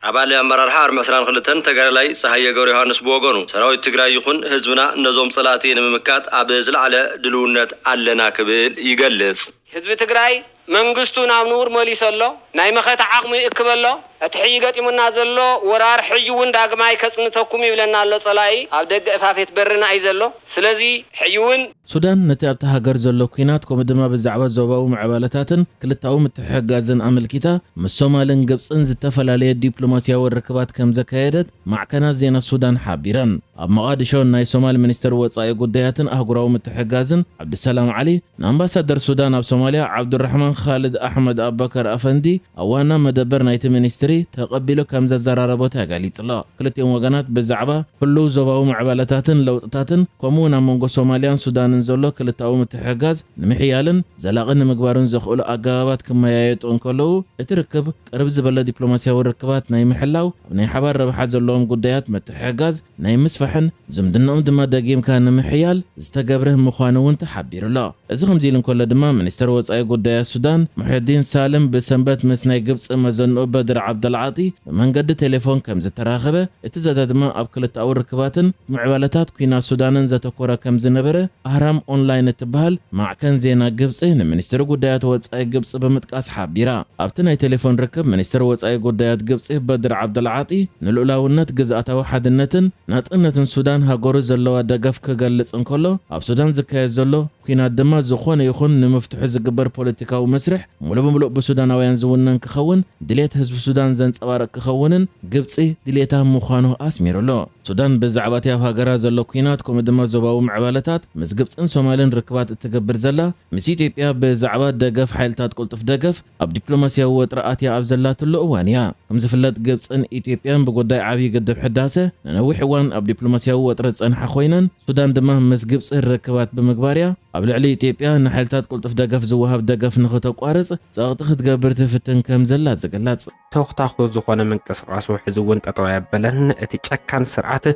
ኣባል ኣመራርሓ ኣርሚ ዕስራን ክልተን ተጋዳላይ ጸሃየ ገብረዮሃንስ ብወገኑ፣ ሰራዊት ትግራይ ይኹን ህዝብና ነዞም ጸላእቲ ንምምካት ኣብ ዝለዓለ ድልውነት ኣለና ክብል ይገልጽ። ህዝቢ ትግራይ መንግስቱ ናብ ንቡር መሊሱ ኣሎ፣ ናይ መኸተ ዓቕሙ ይእክብ ኣሎ፣ እቲ ሕዪ ገጢሙና ዘሎ ወራር ሕዪ እውን ዳግማይ ከጽንተኩም ይብለና ኣሎ ጸላኢ ኣብ ደገ እፋፌት በርና እዩ ዘሎ፣ ስለዚ ሕዪ እውን። ሱዳን ነቲ ኣብታ ሃገር ዘሎ ኲናት ከምኡ ድማ ብዛዕባ ዞባዊ ምዕባለታትን ክልታዊ ምትሕሕጋዝን ኣመልኪታ ምስ ሶማልን ግብጽን ዝተፈላለየ ዲፕሎማስያዊ ርክባት ከም ዘካየደት ማዕከናት ዜና ሱዳን ሓቢረን። ኣብ መቓድሾ ናይ ሶማል ሚኒስተር ወጻኢ ጉዳያትን ኣህጉራዊ ምትሕግጋዝን ዓብዱሰላም ዓሊ ንኣምባሳደር ሱዳን ኣብ ሶማልያ ዓብዱራሕማን ኻልድ ኣሕመድ ኣባከር ኣፈንዲ ኣብ ዋና መደበር ናይቲ ሚኒስትሪ ተቐቢሉ ከም ዘዘራረቦ ተገሊጹ'ሎ። ክልቲኦም ወገናት ብዛዕባ ህሉው ዞባዊ ምዕባለታትን ለውጥታትን ከምኡ'ውን ኣብ መንጎ ሶማልያን ሱዳንን ዘሎ ክልተኣዊ ምትሕግጋዝ ንምሕያልን ዘላቒ ንምግባርን ዘኽእሉ ኣገባባት ክመያየጡ እንከለዉ እቲ ርክብ ቅርብ ዝበለ ዲፕሎማስያዊ ርክባት ናይ ምሕላው ኣብ ናይ ሓባር ረብሓ ዘለዎም ጉዳያት ምትሕግጋዝ ናይ ምስፋሕን ዝምድናኦም ድማ ደጊምካ ንምሕያል ዝተገብረ ምዃኑ እውን ተሓቢሩ'ሎ። እዚ ከምዚ ኢሉ እንከሎ ድማ ሚኒስተር ወጻኢ ጉዳያት ሱዳን ሙሕየዲን ሳልም ብሰንበት ምስ ናይ ግብጺ መዘንኡ በድር ዓብደልዓጢ ብመንገዲ ቴሌፎን ከምዝተራኸበ፣ እቲ ዘተ ድማ ኣብ ክልተኣዊ ርክባትን ምዕባለታት ኲናት ሱዳንን ዘተኮረ ከምዝነበረ ኣህራም ኦንላይን እትበሃል ማዕከን ዜና ግብጺ ንሚኒስትሪ ጉዳያት ወጻኢ ግብጺ ብምጥቃስ ሓቢራ። ኣብቲ ናይ ቴሌፎን ርክብ ሚኒስተር ወጻኢ ጉዳያት ግብጺ በድር ዓብደልዓጢ፣ ንልኡላውነት፣ ግዝኣታዊ ሓድነትን ናጽነትን ሱዳን ሃገሩ ዘለዋ ደገፍ ክገልጽ እንከሎ፣ ኣብ ሱዳን ዝካየድ ዘሎ ኲናት ድማ ዝኾነ ይኹን ንምፍትሑ ዝግበር ፖለቲካዊ መስርሕ ሙሉእ ብምሉእ ብሱዳናውያን ዝውነን ክኸውን ድሌት ህዝቢ ሱዳን ዘንጸባርቕ ክኸውንን ግብጺ ድሌታ ምዃኑ ኣስሚሩሉ። ሱዳን ብዛዕባ'ቲ ኣብ ሃገራ ዘሎ ኲናት ከምኡ ድማ ዞባዊ ምዕባለታት ምስ ግብጽን ሶማልን ርክባት እትገብር ዘላ ምስ ኢትዮጵያ ብዛዕባ ደገፍ ሓይልታት ቅልጡፍ ደገፍ ኣብ ዲፕሎማስያዊ ወጥሪ ኣትያ ኣብ ዘላትሉ እዋን እያ። ከም ዝፍለጥ ግብጽን ኢትዮጵያን ብጉዳይ ዓብዪ ግድብ ሕዳሰ ንነዊሕ እዋን ኣብ ዲፕሎማስያዊ ወጥሪ ዝጸንሓ ኮይነን፣ ሱዳን ድማ ምስ ግብጺ ርክባት ብምግባር እያ ኣብ ልዕሊ ኢትዮጵያ ንሓይልታት ቅልጡፍ ደገፍ ዝወሃብ ደገፍ ንኽተቋርጽ ጸቕጢ ክትገብር ትፍትን ከም ዘላ ዝግለጽ። ተኹታኹ ዝኾነ ምንቅስቓሱ ሕዚ እውን ጠጠው ኣየበለን። እቲ ጨካን ስርዓት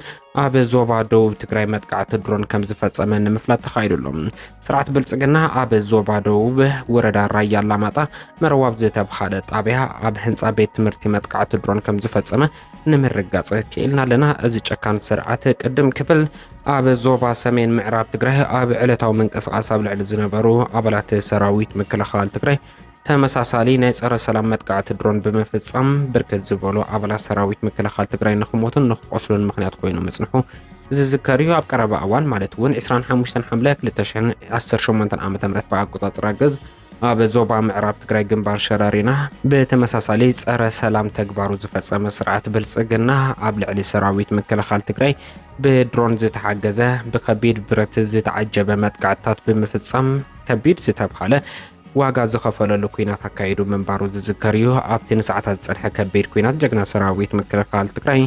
ኣብ ዞባ ደቡብ ትግራይ መጥቃዕቲ ድሮን ከም ዝፈጸመ ንምፍላጥ ተኻይዱ ኣሎ። ስርዓት ብልጽግና ኣብ ዞባ ደቡብ ወረዳ ራያ ኣላማጣ መረዋብ ዝተብሃለ ጣብያ ኣብ ህንፃ ቤት ትምህርቲ መጥቃዕቲ ድሮን ከም ዝፈጸመ ንምርጋጽ ክኢልና ኣለና። እዚ ጨካን ስርዓት ቅድም ክብል ኣብ ዞባ ሰሜን ምዕራብ ትግራይ ኣብ ዕለታዊ ምንቅስቓስ ኣብ ልዕሊ ዝነበሩ ኣባላት ሰራዊት ምክልኻል ትግራይ ተመሳሳሊ ናይ ጸረ ሰላም መጥቃዕቲ ድሮን ብምፍጻም ብርክት ዝበሉ ኣባላት ሰራዊት ምክልኻል ትግራይ ንክሞቱን ንክቆስሉን ምክንያት ኮይኑ ምጽንሑ ዝዝከር እዩ። ኣብ ቀረባ እዋን ማለት እውን 25 ሓምለ 2018 ዓ ም ብኣቆጻጽራ ግዝ ኣብ ዞባ ምዕራብ ትግራይ ግንባር ሸረሪና ብተመሳሳሊ ጸረ ሰላም ተግባሩ ዝፈጸመ ስርዓት ብልጽግና ኣብ ልዕሊ ሰራዊት ምክልኻል ትግራይ ብድሮን ዝተሓገዘ ብከቢድ ብረት ዝተዓጀበ መጥቃዕትታት ብምፍጻም ከቢድ ዝተብሃለ ዋጋ ዝኸፈለሉ ኩናት ኣካይዱ ምንባሩ ዝዝከር እዩ። ኣብቲ ንሰዓታት ዝጸንሐ ከቢድ ኩናት ጀግና ሰራዊት ምክልኻል ትግራይ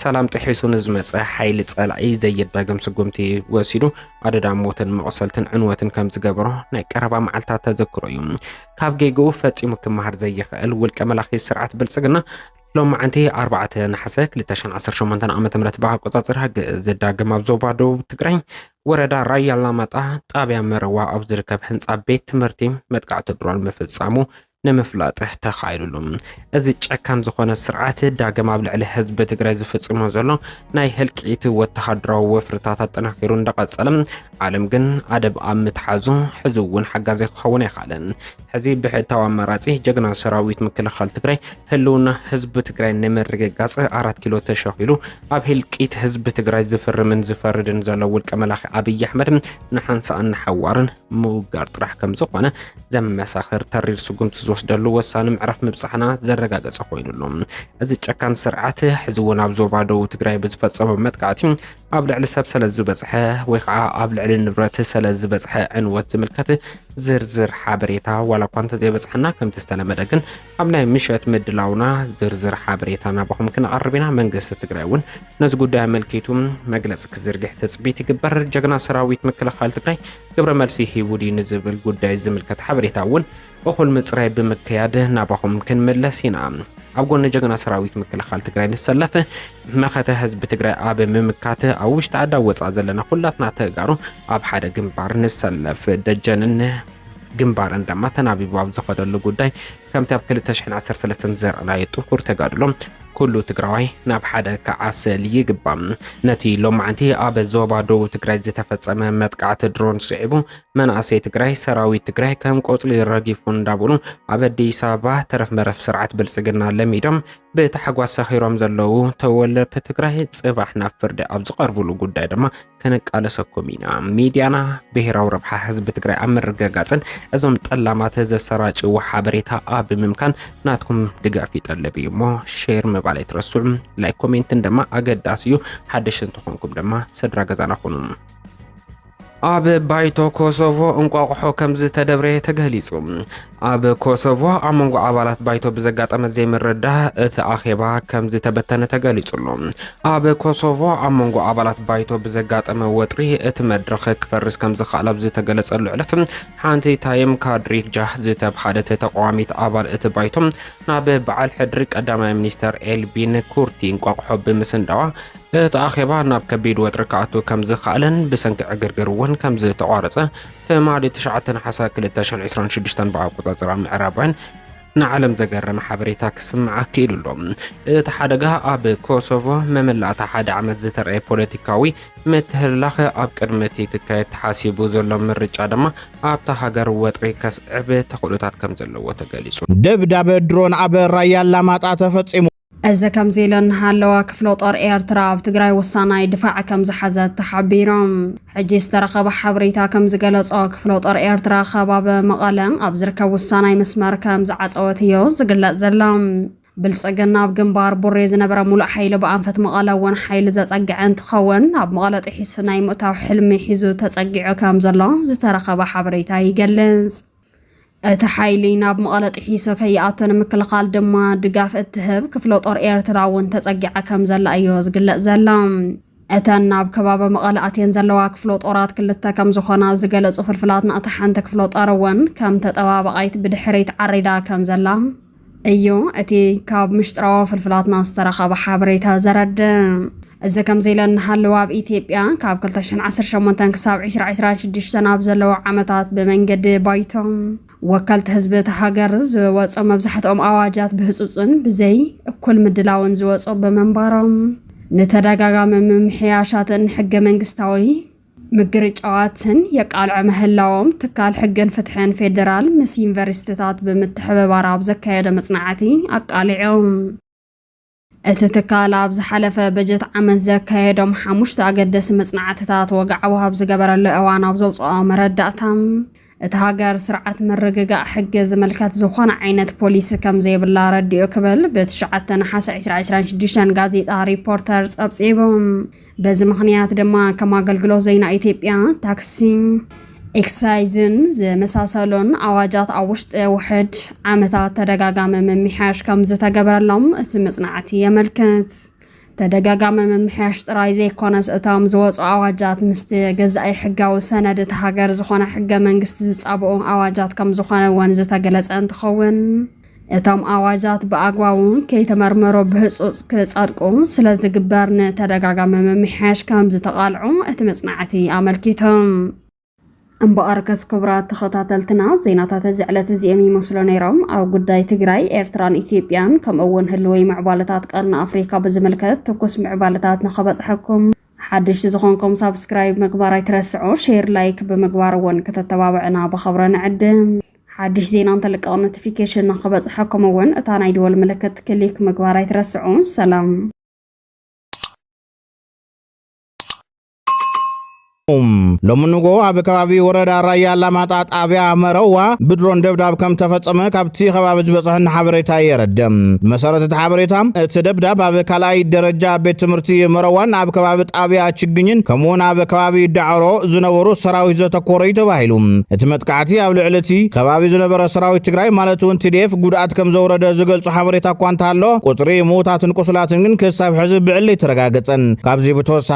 ሰላም ጥሒሱ ንዝመጸ ሓይሊ ጸላኢ ዘየዳግም ስጉምቲ ወሲዱ ኣደዳ ሞትን መቑሰልትን ዕንወትን ከም ዝገበሮ ናይ ቀረባ መዓልታት ተዘክሮ እዩ። ካብ ጌግኡ ፈጺሙ ክመሃር ዘይኽእል ውልቀ መላኺ ስርዓት ብልጽግና ሎማዓንቲ ኣርባዕተ ነሓሰ 2018 ዓ ም ብኣቆፃፅራ ግእዝ ዳግም ኣብ ዞባ ደቡብ ትግራይ ወረዳ ራያ ኣላማጣ ጣብያ መረዋ ኣብ ዝርከብ ህንፃ ቤት ትምህርቲ መጥቃዕቲ ድሮን ምፍፃሙ ንምፍላጥ ተኻይሉሉ እዚ ጨካን ዝኾነ ስርዓት ዳግም ኣብ ልዕሊ ህዝቢ ትግራይ ዝፍፅሞ ዘሎ ናይ ህልቂት ወተሃደራዊ ወፍርታት ኣጠናኪሩ እንዳቐፀለ ዓለም ግን ኣደብ ኣብ ምትሓዙ ሕዚ እውን ሓጋዚ ክኸውን ኣይካለን ሕዚ ብሕታዊ ኣማራፂ ጀግና ሰራዊት ምክልኻል ትግራይ ህልውና ህዝቢ ትግራይ ንምርግጋፅ ኣራት ኪሎ ተሸኺሉ ኣብ ህልቂት ህዝቢ ትግራይ ዝፍርምን ዝፈርድን ዘሎ ውልቀ መላኺ ኣብይ ኣሕመድ ንሓንሳእን ንሓዋርን ምውጋር ጥራሕ ከም ዝኾነ ዘመሳኽር ተሪር ስጉምቲ ዝወስደሉ ወሳኒ ምዕራፍ ምብፃሕና ዘረጋገፀ ኮይኑ ኣሎ። እዚ ጨካን ስርዓት ሕዚ እውን ኣብ ዞባ ደቡብ ትግራይ ብዝፈፀሞ መጥቃዕቲ ኣብ ልዕሊ ሰብ ስለ ዝበፅሐ ወይ ከዓ ኣብ ልዕሊ ንብረት ስለ ዝበፅሐ ዕንወት ዝምልከት ዝርዝር ሓበሬታ ዋላ እኳ እንተዘይበፅሓና ከምቲ ዝተለመደ ግን ኣብ ናይ ምሸት ምድላውና ዝርዝር ሓበሬታ ናባኹም ክንቐርብ ኢና። መንግስቲ ትግራይ እውን ነዚ ጉዳይ ኣመልኪቱ መግለፂ ክዝርግሕ ትፅቢት ይግበር። ጀግና ሰራዊት ምክልኻል ትግራይ ግብረ መልሲ ሂቡ ድዩ ንዝብል ጉዳይ ዝምልከት ሓበሬታ እውን እኹል ምፅራይ ብምክያድ ናባኹም ክንምለስ ኢና። ኣብ ጎኒ ጀግና ሰራዊት ምክልኻል ትግራይ ንሰለፍ። መኸተ ህዝቢ ትግራይ ኣብ ምምካት ኣብ ውሽጢ ዓዲ ኣብ ወፃእ ዘለና ኩላትና ተጋሩ ኣብ ሓደ ግንባር ንሰለፍ ደጀንን ግንባርን ድማ ተናቢቡ ኣብ ዝኸደሉ ጉዳይ ከምቲ ኣብ 213 ዘርኣናዮ ጥንኩር ተጋድሎ ኩሉ ትግራዋይ ናብ ሓደ ክዓሰል ይግባእ ነቲ ሎማዕንቲ ኣብ ዞባ ደቡብ ትግራይ ዝተፈጸመ መጥቃዕቲ ድሮን ስዒቡ መናእሰይ ትግራይ ሰራዊት ትግራይ ከም ቆጽሊ ረጊፉ እንዳበሉ ኣብ ኣዲስ ኣበባ ተረፍ መረፍ ስርዓት ብልጽግና ለሚዶም ብታሕጓስ ሰኺሮም ዘለዉ ተወለድቲ ትግራይ ጽባሕ ናብ ፍርዲ ኣብ ዝቐርብሉ ጉዳይ ድማ ከነቃለሰኩም ኢና። ሚድያና ብሔራዊ ረብሓ ህዝቢ ትግራይ ኣብ ምርግጋጽን እዞም ጠላማት ዘሰራጭዎ ሓበሬታ ኣብ ምምካን ናትኩም ድጋፍ ይጠልብ እዩ እሞ ሼር ምባል ኣይትረስዑ። ላይክ ኮሜንትን ድማ ኣገዳሲ እዩ። ሓደሽ እንተኾንኩም ድማ ስድራ ገዛና ኹኑ። ኣብ ባይቶ ኮሶቮ እንቋቑሖ ከም ዝተደብረየ ተገሊጹ። ኣብ ኮሶቮ ኣብ መንጎ ኣባላት ባይቶ ብዘጋጠመ ዘይምርዳእ እቲ ኣኼባ ከም ዝተበተነ ተገሊጹ ኣሎ። ኣብ ኮሶቮ ኣብ መንጎ ኣባላት ባይቶ ብዘጋጠመ ወጥሪ እቲ መድረኽ ክፈርስ ከም ዝኸኣል ኣብ ዝተገለጸሉ ዕለት ሓንቲ ታይም ካድሪጃህ ዝተብሃለት ተቃዋሚት ኣባል እቲ ባይቶ ናብ በዓል ሕድሪ ቀዳማይ ሚኒስተር ኤልቢን ኩርቲ እንቋቑሖ ብምስንዳዋ እቲ ኣኼባ ናብ ከቢድ ወጥሪ ክኣቱ ከም ዝኸኣለን ብሰንኪ ዕግርግር እውን ከም ዝተቋረጸ ትማሊ ትሽዓተ ነሓሰ 2026 ብኣቆጻጽራ ምዕራባውያን ንዓለም ዘገረመ ሓበሬታ ክስምዓ ክኢሉ ኣሎ እቲ ሓደጋ ኣብ ኮሶቮ መመላእታ ሓደ ዓመት ዝተረኣየ ፖለቲካዊ ምትህልላኸ ኣብ ቅድሚ እቲ ክካየድ ተሓሲቡ ዘሎ ምርጫ ድማ ኣብታ ሃገር ወጥሪ ከስዕብ ተኽእሎታት ከም ዘለዎ ተገሊጹ ደብዳበ ድሮን ኣብ ራያ ኣላማጣ ተፈጺሙ እዚ ከምዚ ኢሉ እናሃለወ ክፍለ ጦር ኤርትራ ኣብ ትግራይ ወሳናይ ድፋዕ ከም ዝሓዘት ተሓቢሮም። ሕጂ ዝተረኸበ ሓበሬታ ከም ዝገለጾ ክፍለ ጦር ኤርትራ ከባቢ መቐለ ኣብ ዝርከብ ውሳናይ መስመር ከም ዝዓጸወት እዮ ዝግለጽ ዘሎ። ብልጽግና ኣብ ግንባር ቡሬ ዝነበረ ሙሉእ ሓይሊ ብኣንፈት መቐለ እውን ሓይሊ ዘጸግዐ እንትኸውን ኣብ መቐለ ጥሒሱ ናይ ምእታው ሕልሚ ሒዙ ተጸጊዑ ከም ዘሎ ዝተረኸበ ሓበሬታ ይገልጽ። እቲ ሓይሊ ናብ መቐለ ጥሒሶ ከይኣቶ ንምክልኻል ድማ ድጋፍ እትህብ ክፍለ ጦር ኤርትራ እውን ተጸጊዓ ከም ዘላ እዮ ዝግለጽ ዘላ። እተን ናብ ከባቢ መቐለ ኣትየን ዘለዋ ክፍሎ ጦራት ክልተ ከም ዝኾና ዝገለጹ ፍልፍላትና እታ ሓንቲ ክፍሎ ጦር እውን ከም ተጠባባቓይት ብድሕሪት ዓሪዳ ከም ዘላ እዩ እቲ ካብ ምሽጥራዊ ፍልፍላትና ዝተረኸበ ሓበሬታ ዘረድእ። እዚ ከምዚ ኢለ እናሃለወ ኣብ ኢትዮጵያ ካብ 218 ክሳብ 2026 ኣብ ዘለዉ ዓመታት ብመንገዲ ባይቶ ወከልቲ ህዝቢ እቲ ሃገር ዝወፁ መብዛሕትኦም ኣዋጃት ብህፁፅን ብዘይ እኩል ምድላውን ዝወፁ ብምንባሮም ንተደጋጋሚ ምምሕያሻትን ሕገ መንግስታዊ ምግርጫዋትን የቃልዑ ምህላዎም ትካል ሕግን ፍትሕን ፌዴራል ምስ ዩኒቨርሲቲታት ብምትሕብባር ኣብ ዘካየደ መጽናዕቲ ኣቃሊዖም። እቲ ትካል ኣብ ዝሓለፈ በጀት ዓመት ዘካየዶም ሓሙሽተ ኣገደሲ መጽናዕትታት ወግዓዊ ኣብ ዝገበረሉ እዋን ኣብ ዘውፅኦ መረዳእታ እታ ሃገር ስርዓት ምርግጋእ ሕጊ ዝምልከት ዝኾነ ዓይነት ፖሊሲ ከም ዘይብላ ኣረዲኡ ክብል ብትሽዓተ ነሓሰ ዕስራ ዕስራን ሽዱሽተን ጋዜጣ ሪፖርተር ጸብጺቡ። በዚ ምኽንያት ድማ ከም ኣገልግሎት ዜና ኢትዮጵያ፣ ታክሲን ኤክሳይዝን ዝመሳሰሉን ኣዋጃት ኣብ ውሽጢ ውሕድ ዓመታት ተደጋጋሚ ምምሕያሽ ከም ዝተገበረሎም እቲ መጽናዕቲ የመልክት። ተደጋጋሚ ምምሕያሽ ጥራይ ዘይኮነስ እቶም ዝወፁ ኣዋጃት ምስቲ ገዛኢ ሕጋዊ ሰነድ እቲ ሃገር ዝኾነ ሕገ መንግስቲ ዝፃብኡ ኣዋጃት ከም ዝኾነ እውን ዝተገለፀ እንትኸውን እቶም ኣዋጃት ብኣግባቡ ከይተመርመሮ ብህፁፅ ክፀድቁ ስለ ዝግበር ንተደጋጋሚ ምምሕያሽ ከም ዝተቓልዑ እቲ መፅናዕቲ ኣመልኪቶም። እምበኣርከስ ክቡራት ተኸታተልትና ዜናታት እዚ ዕለት እዚኦም ይመስሉ ነይሮም። ኣብ ጉዳይ ትግራይ፣ ኤርትራን ኢትዮጵያን ከምኡ እውን ህልወይ ምዕባለታት ቀርኒ ኣፍሪካ ብዝምልከት ትኩስ ምዕባለታት ንኸበፅሐኩም ሓድሽቲ ዝኾንኩም ሳብስክራይብ ምግባር ኣይትረስዑ፣ ሼር ላይክ ብምግባር እውን ከተተባብዕና ብኸብረ ንዕድም። ሓድሽ ዜና እንተልቀቕ ኖቲፊኬሽን ንኸበፅሐኩም እውን እታ ናይ ደወል ምልክት ክሊክ ምግባር ኣይትረስዑ። ሰላም ሎሚ ንጎ ኣብ ከባቢ ወረዳ ራያ ኣላማጣ ጣብያ መረዋ ብድሮን ደብዳብ ከም ተፈጸመ ካብቲ ከባቢ ዝበጽሐኒ ሓበሬታ የረድእ። ብመሰረት እቲ ሓበሬታ እቲ ደብዳብ ኣብ ካልኣይ ደረጃ ቤት ትምህርቲ መረዋን ኣብ ከባቢ ጣብያ ችግኝን ከምኡውን ኣብ ከባቢ ዳዕሮ ዝነበሩ ሰራዊት ዘተኮረ እዩ ተባሂሉ። እቲ መጥቃዕቲ ኣብ ልዕሊ እቲ ከባቢ ዝነበረ ሰራዊት ትግራይ ማለት እውን ቲዲኤፍ ጉድኣት ከም ዘውረደ ዝገልጹ ሓበሬታ እኳ እንተሃለወ ቁጽሪ ምዉታትን ቁስላትን ግን ክሳብ ሕዚ ብዕሊ ኣይተረጋገጸን። ካብዚ ብተወሳኺ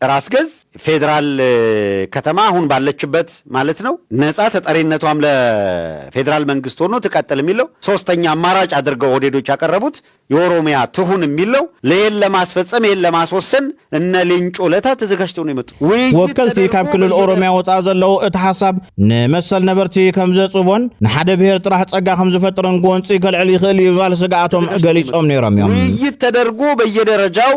ራስ ገዝ ፌዴራል ከተማ አሁን ባለችበት ማለት ነው ነፃ ተጠሪነቷም ለፌዴራል መንግስት ሆኖ ትቀጥል የሚለው ሶስተኛ አማራጭ አድርገው ኦህዴዶች ያቀረቡት የኦሮሚያ ትሁን የሚለው ለይህን ለማስፈጸም ይህን ለማስወሰን እነ ሌንጮ ለታ ተዘጋጅተው ነው የመጡ ውይይት ወከልቲ ካብ ተደርጎ ክልል በየነ ኦሮሚያ ወፃእ ዘለዉ እቲ ሓሳብ ንመሰል ነበርቲ ከም ዘፅቦን ንሓደ ብሔር ጥራሕ ፀጋ ከም ዝፈጥርን ጎንፂ ከልዕል ይኽእል እዩ ባል ስግኣቶም ገሊፆም ነይሮም እዮም ውይይት ተደርጎ በየደረጃው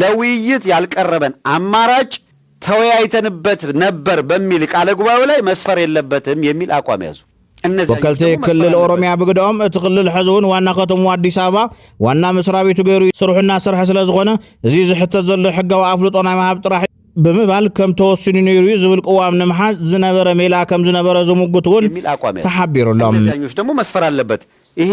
ለውይይት ያልቀረበን አማራጭ ተወያይተንበት ነበር በሚል ቃለ ጉባኤው ላይ መስፈር የለበትም የሚል አቋም ያዙ። ወከልቲ ክልል ኦሮሚያ ብግደኦም እቲ ክልል ሕዚ እውን ዋና ከተምኡ ኣዲስ ኣበባ ዋና መስሪያ ቤቱ ገይሩ ስርሑ እናሰርሐ ስለ ዝኾነ እዚ ዝሕተት ዘሎ ሕጋዊ ኣፍልጦ ናይ ምሃብ ጥራሕ ብምባል ከም ተወሲኑ ነይሩ እዩ ዝብል ቅዋም ንምሓዝ ዝነበረ ሜላ ከም ዝነበረ ዝምጉት እውን ተሓቢሩ ኣሎ። እነዚያኞች ደግሞ መስፈር ኣለበት ይሄ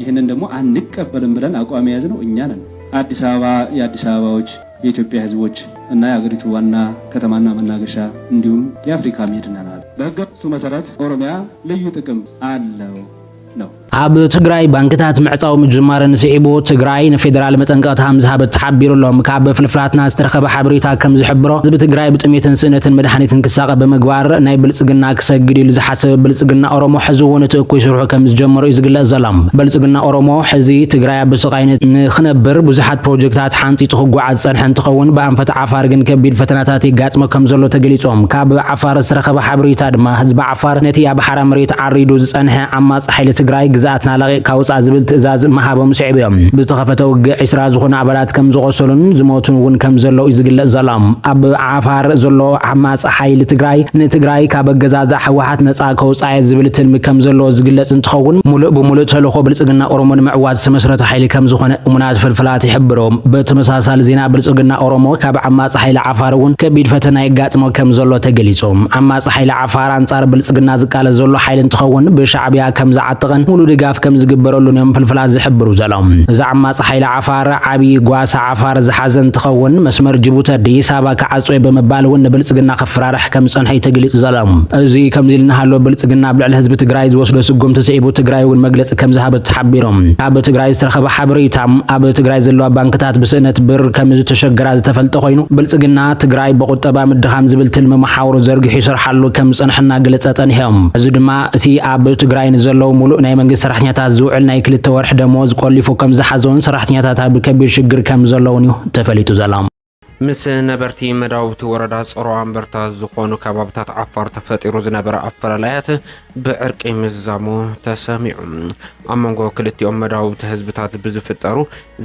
ይህንን ደግሞ አንቀበልም ብለን አቋም የያዝነው እኛ ነን። አዲስ አበባ የአዲስ አበባዎች፣ የኢትዮጵያ ህዝቦች እና የአገሪቱ ዋና ከተማና መናገሻ እንዲሁም የአፍሪካ መዲና ናት። በህገመንግስቱ መሰረት ኦሮሚያ ልዩ ጥቅም አለው ነው። ኣብ ትግራይ ባንክታት ምዕፃው ምጅማርን ስዒቡ ትግራይ ንፌደራል መጠንቀቕታ ከም ዝሃበት ተሓቢሩ ኣሎ። ካብ ፍልፍላትና ዝተረኸበ ሓበሬታ ከም ዝሕብሮ ህዝቢ ትግራይ ብጥሜትን ስእነትን መድሓኒትን ክሳቐ ብምግባር ናይ ብልፅግና ክሰግድ ኢሉ ስብ ብልፅግና ኦሮሞ ሕዚ እውን እቲ እኩይ ስርሑ ከምዝጀመሮ እዩ ዝግለፅ ዘሎ። ብልፅግና ኦሮሞ ሕዚ ትግራይ ኣብ ብስቃይ ንክነብር ብዙሓት ፕሮጀክታት ሓንፂፁ ክጓዓዝ ዝፀንሐ እንትኸውን ብኣንፈት ዓፋር ግን ከቢድ ፈተናታት የጋጥሞ ከምዘሎ ተገሊፁ። ካብ ዓፋር ዝተረኸበ ሓበሬታ ድማ ህዝቢ ዓፋር ነቲ ኣብ ሓራ መሬት ዓሪዱ ዝፀንሐ ዓማፂ ሓይሊ ትግራይ ግዝኣትና ለቒቕካ ውፃእ ዝብል ትእዛዝ ምሃቦም ስዒቡ እዩ ብዝተኸፈተ ውግእ ዒስራ ዝኾኑ ኣባላት ከምዝቖሰሉን ዝሞቱን እውን ከምዘለው እዩ ዝግለፅ ዘሎ። ኣብ ዓፋር ዘሎ ዓማፂ ጸሓይሊ ትግራይ ንትግራይ ካብ ኣገዛዝኣ ህወሓት ነጻ ከውጽኣ'የ ዝብል ትልሚ ከም ዘለዎ ዝግለጽ እንትኸውን፣ ሙሉእ ብሙሉእ ተልእኾ ብልጽግና ኦሮሞ ንምዕዋት ዝተመስረተ ሓይሊ ከም ዝኾነ እሙናት ፍልፍላት ይሕብሩ። ብተመሳሳሊ ዜና ብልጽግና ኦሮሞ ካብ ዓማጺ ሓይሊ ዓፋር እውን ከቢድ ፈተና የጋጥሞ ከም ዘሎ ተገሊጹ። ዓማጺ ሓይሊ ዓፋር ኣንጻር ብልጽግና ዝቃለስ ዘሎ ሓይሊ እንትኸውን ብሻዕብያ ከም ዝዓጠቐን ሙሉእ ድጋፍ ከም ዝግበረሉን እዮም ፍልፍላት ዝሕብሩ ዘለው። እዚ ዓማጺ ሓይሊ ዓፋር ዓብይ ጓሳ ዓፋር ዝሓዘ እንትኸውን መስመር ጅቡቲ ኣዲስ ኣበባ ክዓፆ እየ ብምባል እውን ንብልፅግና ከፍራርሕ ከምዝፀንሐ እዩ ተገሊፁ ዘሎ። እዙይ ከምዙይ እናሃለወ ብልፅግና ኣብ ልዕሊ ህዝቢ ትግራይ ዝወስዶ ስጉምቲ ስዒቡ ትግራይ እውን መግለፂ ከምዝሃበት ተሓቢሩ። ካብ ትግራይ ዝተረኸበ ሓበሬታ ኣብ ትግራይ ዘለዋ ባንክታት ብስእነት ብር ከምዝተሸገራ ዝተፈልጠ ኮይኑ ብልፅግና ትግራይ ብቑጠባ ምድኻም ዝብል ትልሚ መሓውሩ ዘርጊሑ ይሰርሓሉ ከምዝፀንሐ እናገለፀ ፀኒሑ። ሕዚ ድማ እቲ ኣብ ትግራይ ንዘለዉ ሙሉእ ናይ መንግስቲ ሰራሕተኛታት ዝውዕል ናይ ክልተ ወርሒ ደመወዝ ቆሊፉ ከምዝሓዞን ሰራሕተኛታት ኣብ ከቢድ ሽግር ከምዘለዉን እዩ ተፈሊጡ ዘሎ። ምስ ነበርቲ መዳውብቲ ወረዳ ጸሮ ኣንበርታ ዝኾኑ ከባብታት ዓፋር ተፈጢሩ ዝነበረ ኣፈላላያት ብዕርቂ ምዝዛሙ ተሰሚዑ። ኣብ መንጎ ክልቲኦም መዳውብቲ ህዝብታት ብዝፍጠሩ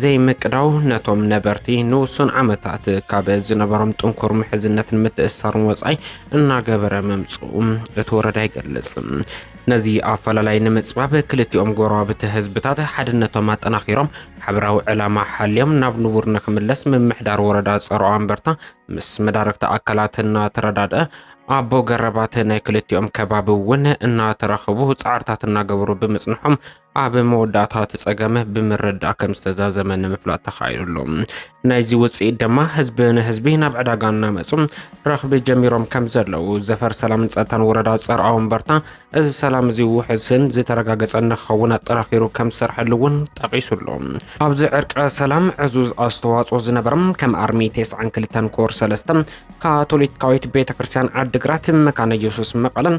ዘይምቅዳው ነቶም ነበርቲ ንውሱን ዓመታት ካብ ዝነበሮም ጥንኩር ምሕዝነትን ምትእስሳርን ወጻኢ እናገበረ ምምጽኡ እቲ ወረዳ ይገልጽ። ነዚ ኣፈላላይ ንምጽባብ ክልቲኦም ጎረባብቲ ህዝብታት ሓድነቶም ኣጠናኺሮም ሓበራዊ ዕላማ ሓልዮም ናብ ንቡር ንክምለስ ምምሕዳር ወረዳ ጸሮ ኣንበርታ ምስ መዳርግቲ ኣካላት እናተረዳድአ ኣቦ ገረባት ናይ ክልቲኦም ከባቢ እውን እናተራኸቡ ጻዕርታት እናገበሩ ብምጽንሖም ኣብ መወዳእታ እቲ ጸገም ብምርዳእ ከም ዝተዛዘመ ንምፍላጥ ተኻኢሉ ኣሎ ናይዚ ውፅኢት ድማ ህዝቢ ንህዝቢ ናብ ዕዳጋ እናመፁ ረኽቢ ጀሚሮም ከም ዘለዉ ዘፈር ሰላምን ጸጥታን ወረዳ ጸርዓ ወንበርታ እዚ ሰላም እዚ ውሕስን ዝተረጋገጸ ንክኸውን ኣጠናኺሩ ከም ዝሰርሐሉ እውን ጠቒሱ ኣሎ ኣብዚ ዕርቀ ሰላም ዕዙዝ ኣስተዋጽኦ ዝነበሮም ከም ኣርሚ 92 ኮር 3 ካቶሊካዊት ቤተ ክርስቲያን ዓዲግራት መካነ ኢየሱስ መቐለን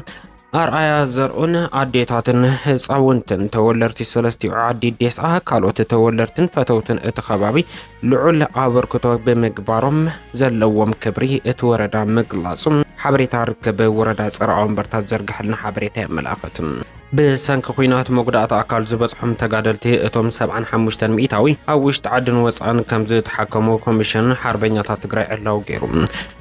ኣርኣያ ዘርኡን ኣዴታትን ህፃውንትን ተወለርቲ ሰለስቲኡ ዓዲ ዴስኣ ካልኦት ተወለርትን ፈተውትን እቲ ከባቢ ልዑል ኣበርክቶ ብምግባሮም ዘለዎም ክብሪ እቲ ወረዳ ምግላፁ ሓበሬታ ርክብ ወረዳ ፀረ ኣወንበርታት ዘርግሐልና ሓበሬታ የመላኽት። ብሰንኪ ኩናት መጉዳእቲ ኣካል ዝበፅሖም ተጋደልቲ እቶም 75 ሚእታዊ ኣብ ውሽጢ ዓድን ወፃእን ከም ዝተሓከሙ ኮሚሽን ሓርበኛታት ትግራይ ዕላው ገይሩ።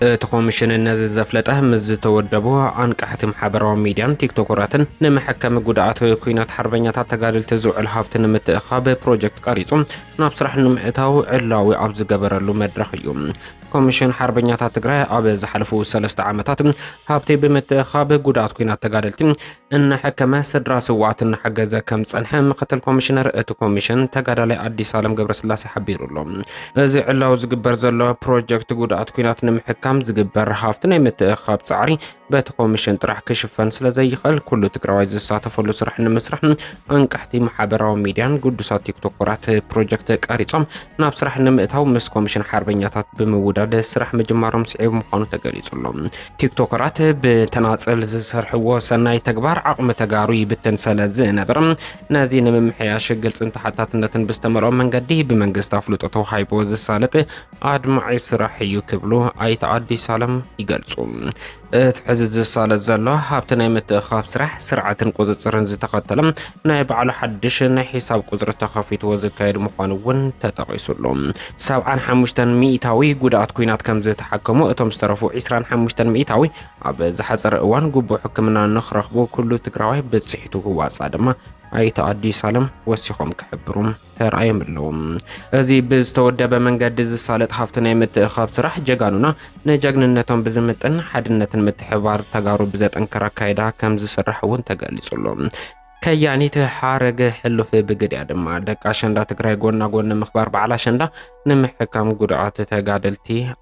እቲ ኮሚሽን ነዚ ዘፍለጠ ምስ ዝተወደቡ ኣንቃሕቲ ማሕበራዊ ሚድያን ቲክቶከራትን ንመሐከሚ ጉድኣት ኩናት ሓርበኛታት ተጋደልቲ ዝውዕል ሃፍቲ ንምትእኻብ ፕሮጀክት ቀሪፁ ናብ ስራሕ ንምእታው ዕላዊ ኣብ ዝገበረሉ መድረኽ እዩ። ኮሚሽን ሓርበኛታት ትግራይ ኣብ ዝሓለፉ ሰለስተ ዓመታት ሃብቲ ብምትእኻብ ጉድኣት ኩናት ተጋደልቲ እናሐከመ ስድራ ስውኣት እናሐገዘ ከም ዝፀንሐ ምክትል ኮሚሽነር እቲ ኮሚሽን ተጋዳላይ ኣዲስ ኣለም ገብረስላሴ ሓቢሩ ኣሎ። እዚ ዕላዊ ዝግበር ዘሎ ፕሮጀክት ጉድኣት ኩናት ንምሕካም ዝግበር ሃፍቲ ናይ ምትእኽኻብ ፃዕሪ በቲ ኮሚሽን ጥራሕ ክሽፈን ስለዘይኽእል ኩሉ ትግራዋይ ዝሳተፈሉ ስራሕ ንምስራሕ ኣንቀሕቲ ማሕበራዊ ሚዲያን ግዱሳት ቲክቶኮራት ፕሮጀክት ቀሪፆም ናብ ስራሕ ንምእታው ምስ ኮሚሽን ሓርበኛታት ብምውዳድ ስራሕ ምጅማሮም ስዒቡ ምዃኑ ተገሊጹ ኣሎ። ቲክቶከራት ብተናጸል ዝሰርሕዎ ሰናይ ተግባር ዓቕሚ ተጋሩ ይብትን ሰለ ዝነበረ ነዚ ንምምሕያሽ ግልጽን ተሓታትነትን ብዝተመልኦ መንገዲ ብመንግስቲ ኣፍልጦ ተዋሂቦ ዝሳለጥ ኣድማዒ ስራሕ እዩ ክብሉ ኣይተ ኣዲስ ኣለም ይገልጹ። እቲ ሕዚ ዝሳለጥ ዘሎ ሃብቲ ናይ ምትእኻብ ስራሕ ስርዓትን ቁፅፅርን ዝተኸተለ ናይ ባዕሉ ሓድሽ ናይ ሒሳብ ቁፅሪ ተኸፊትዎ ዝካየድ ምዃኑ እውን ተጠቒሱሉ ሰብዓን ሓሙሽተን ሚእታዊ ጉድኣት ኩናት ከም ዝተሓከሙ እቶም ዝተረፉ ዒስራን ሓሙሽተን ሚእታዊ ኣብ ዝሓፀረ እዋን ግቡእ ሕክምና ንክረኽቡ ኩሉ ትግራዋይ ብፅሒቱ ክዋፃእ ድማ ኣይተ ኣዲስ ኣለም ወሲኾም ክሕብሩ ተራእዮም ኣለዉ። እዚ ብዝተወደበ መንገዲ ዝሳለጥ ሃፍቲ ናይ ምትእኻብ ስራሕ ጀጋኑና ንጀግንነቶም ብዝምጥን ሓድነትን ምትሕባር ተጋሩ ብዘጠንክር ኣካይዳ ከም ዝስራሕ እውን ተገሊጹ ኣሎ። ከያኒት ሓረገ ሕሉፍ ብግድያ ድማ ደቂ ኣሸንዳ ትግራይ ጎና ጎኒ ምኽባር በዓል ኣሸንዳ ንምሕካም ጉድኣት ተጋደልቲ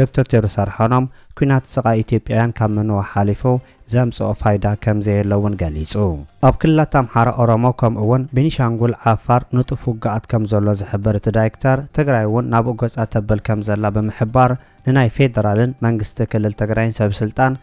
ዶክተር ቴድሮስ ኣድሓኖም፣ ኲናት ስቓይ ኢትዮጵያውያን ካብ ምንዋሕ ሓሊፉ ዘምጽኦ ፋይዳ ከምዘየለ እውን ገሊጹ። ኣብ ክልላት ኣምሓራ፣ ኦሮሞ ከምኡ እውን ቤኒሻንጉል፣ ዓፋር ንጡፍ ውግኣት ከምዘሎ ዝሕብር እቲ ዳይክተር፣ ትግራይ እውን ናብኡ ገጻ ተብል ከምዘላ ብምሕባር ንናይ ፌደራልን መንግስቲ ክልል ትግራይን ሰብስልጣን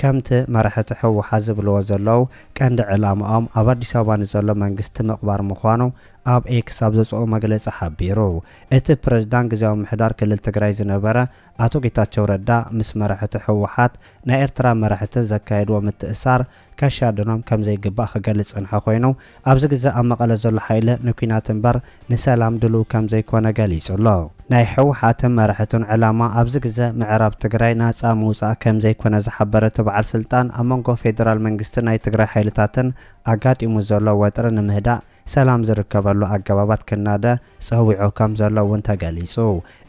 ከምቲ መራሕቲ ህወሓት ዝብልዎ ዘለዉ ቀንዲ ዕላምኦም ኣብ ኣዲስ ኣበባ ንዘሎ መንግስቲ ምቕባር ምዃኑ ኣብ ኤክስ ኣብ ዘውፀኦ መግለፂ ሓቢሩ። እቲ ፕረዚዳንት ግዝያዊ ምምሕዳር ክልል ትግራይ ዝነበረ ኣቶ ጌታቸው ረዳ ምስ መራሕቲ ህወሓት ናይ ኤርትራ መራሕትን ዘካየድዎ ምትእስሳር ከሻድኖም ከምዘይግባእ ክገልፅ ዝፀንሐ ኮይኑ ኣብዚ ግዘ ኣብ መቐለ ዘሎ ሓይሊ ንኲናት እምበር ንሰላም ድሉው ከምዘይኮነ ገሊፁ ኣሎ። ናይ ህወሓትን መራሕቱን ዕላማ ኣብዚ ግዘ ምዕራብ ትግራይ ናፃ ምውፃእ ከምዘይኮነ ዝሓበረ እቲ በዓል ስልጣን ኣብ መንጎ ፌዴራል መንግስትን ናይ ትግራይ ሓይልታትን ኣጋጢሙ ዘሎ ወጥሪ ንምህዳእ ሰላም ዝርከበሉ ኣገባባት ክናደ ፀዊዑ ከምዘሎ እውን ተገሊፁ።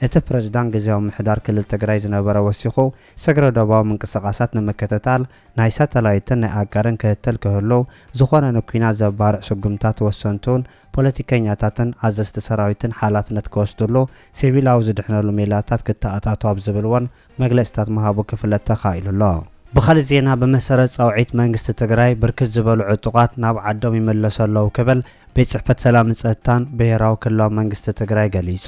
እቲ ፕሬዝዳንት ግዝያዊ ምምሕዳር ክልል ትግራይ ዝነበረ ወሲኹ ስግረ ዶባዊ ምንቅስቓሳት ንምክትታል ናይ ሳተላይትን ናይ ኣጋርን ክትትል ክህሉ፣ ዝኾነ ንኲናት ዘባርዕ ስጉምታት ወሰንቱን ፖለቲከኛታትን ኣዘዝቲ ሰራዊትን ሓላፍነት ክወስድሉ፣ ሲቪላዊ ዝድሕነሉ ሜላታት ክተኣታቶ ኣብ ዝብል እውን መግለፂታት ምሃቡ ክፍለጥ ተኻኢሉ ኣሎ። ብኻሊእ ዜና ብመሰረት ፃውዒት መንግስቲ ትግራይ ብርክት ዝበሉ ዕጡቓት ናብ ዓዶም ይምለሱ ኣለው ክብል ቤት ፅሕፈት ሰላምን ፀጥታን ብሄራዊ ክልላዊ መንግስቲ ትግራይ ገሊፁ።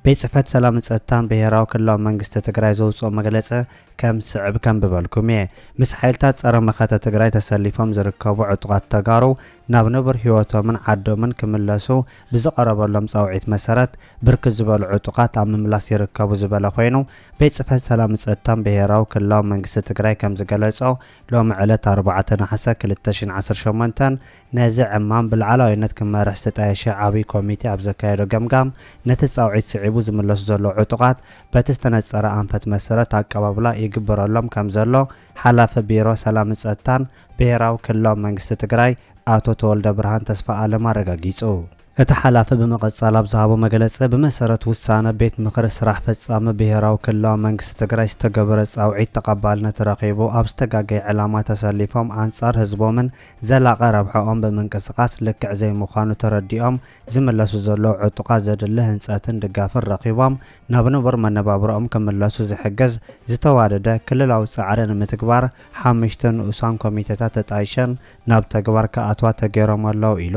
ቤት ፅሕፈት ሰላምን ፀጥታን ብሄራዊ ክልላዊ መንግስቲ ትግራይ ዘውፅኦ መግለፂ ከም ዝስዕብ ከንብበልኩም እየ። ምስ ሓይልታት ፀረ መኸተ ትግራይ ተሰሊፎም ዝርከቡ ዕጡቓት ተጋሩ ናብ ንቡር ህይወቶምን ዓዶምን ክምለሱ ብዝቐረበሎም ፃውዒት መሰረት ብርክት ዝበሉ ዕጡቓት ኣብ ምምላስ ይርከቡ ዝበለ ኾይኑ ቤት ፅፈት ሰላምን ፀጥታን ብሄራዊ ክልላዊ መንግስቲ ትግራይ ከም ዝገለፆ ሎሚ ዕለት ኣርባዕተ ነሓሰ ክልተ ሺህ ዓሰርተ ሸሞንተ ነዚ ዕማም ብላዕላዊነት ክመርሕ ዝተጣየሸ ዓብይ ኮሚቴ ኣብ ዘካየዶ ገምጋም ነቲ ፃውዒት ስዒቡ ዝምለሱ ዘለዉ ዕጡቓት በቲ ዝተነፀረ ኣንፈት መሰረት ኣቀባብላ ይግበረሎም ከምዘሎ ሓላፊ ቢሮ ሰላምን ፀጥታን ብሄራዊ ክልላዊ መንግስቲ ትግራይ ኣቶ ተወልደብርሃን ተስፋኣለም ኣረጋጊፁ። እቲ ሓላፊ ብምቕፃል ኣብ ዝሃቦ መግለፂ፣ ብመሰረት ውሳነ ቤት ምኽሪ ስራሕ ፈፃሚ ብሄራዊ ክልላዊ መንግስቲ ትግራይ ዝተገበረ ፃውዒት ተቐባልነት ረኺቡ ኣብ ዝተጋገየ ዕላማ ተሰሊፎም ኣንፃር ህዝቦምን ዘላቒ ረብሐኦም ብምንቅስቓስ ልክዕ ዘይምዃኑ ተረዲኦም ዝምለሱ ዘለዉ ዕጡቓት ዘድሊ ህንፀትን ድጋፍን ረኺቦም ናብ ንቡር መነባብሮኦም ክምለሱ ዝሕግዝ ዝተዋደደ ክልላዊ ፃዕሪ ንምትግባር ሓመሽተ ንኡሳን ኮሚቴታት ተጣይሸን ናብ ተግባር ክኣትዋ ተገይሮም ኣለዉ ኢሉ።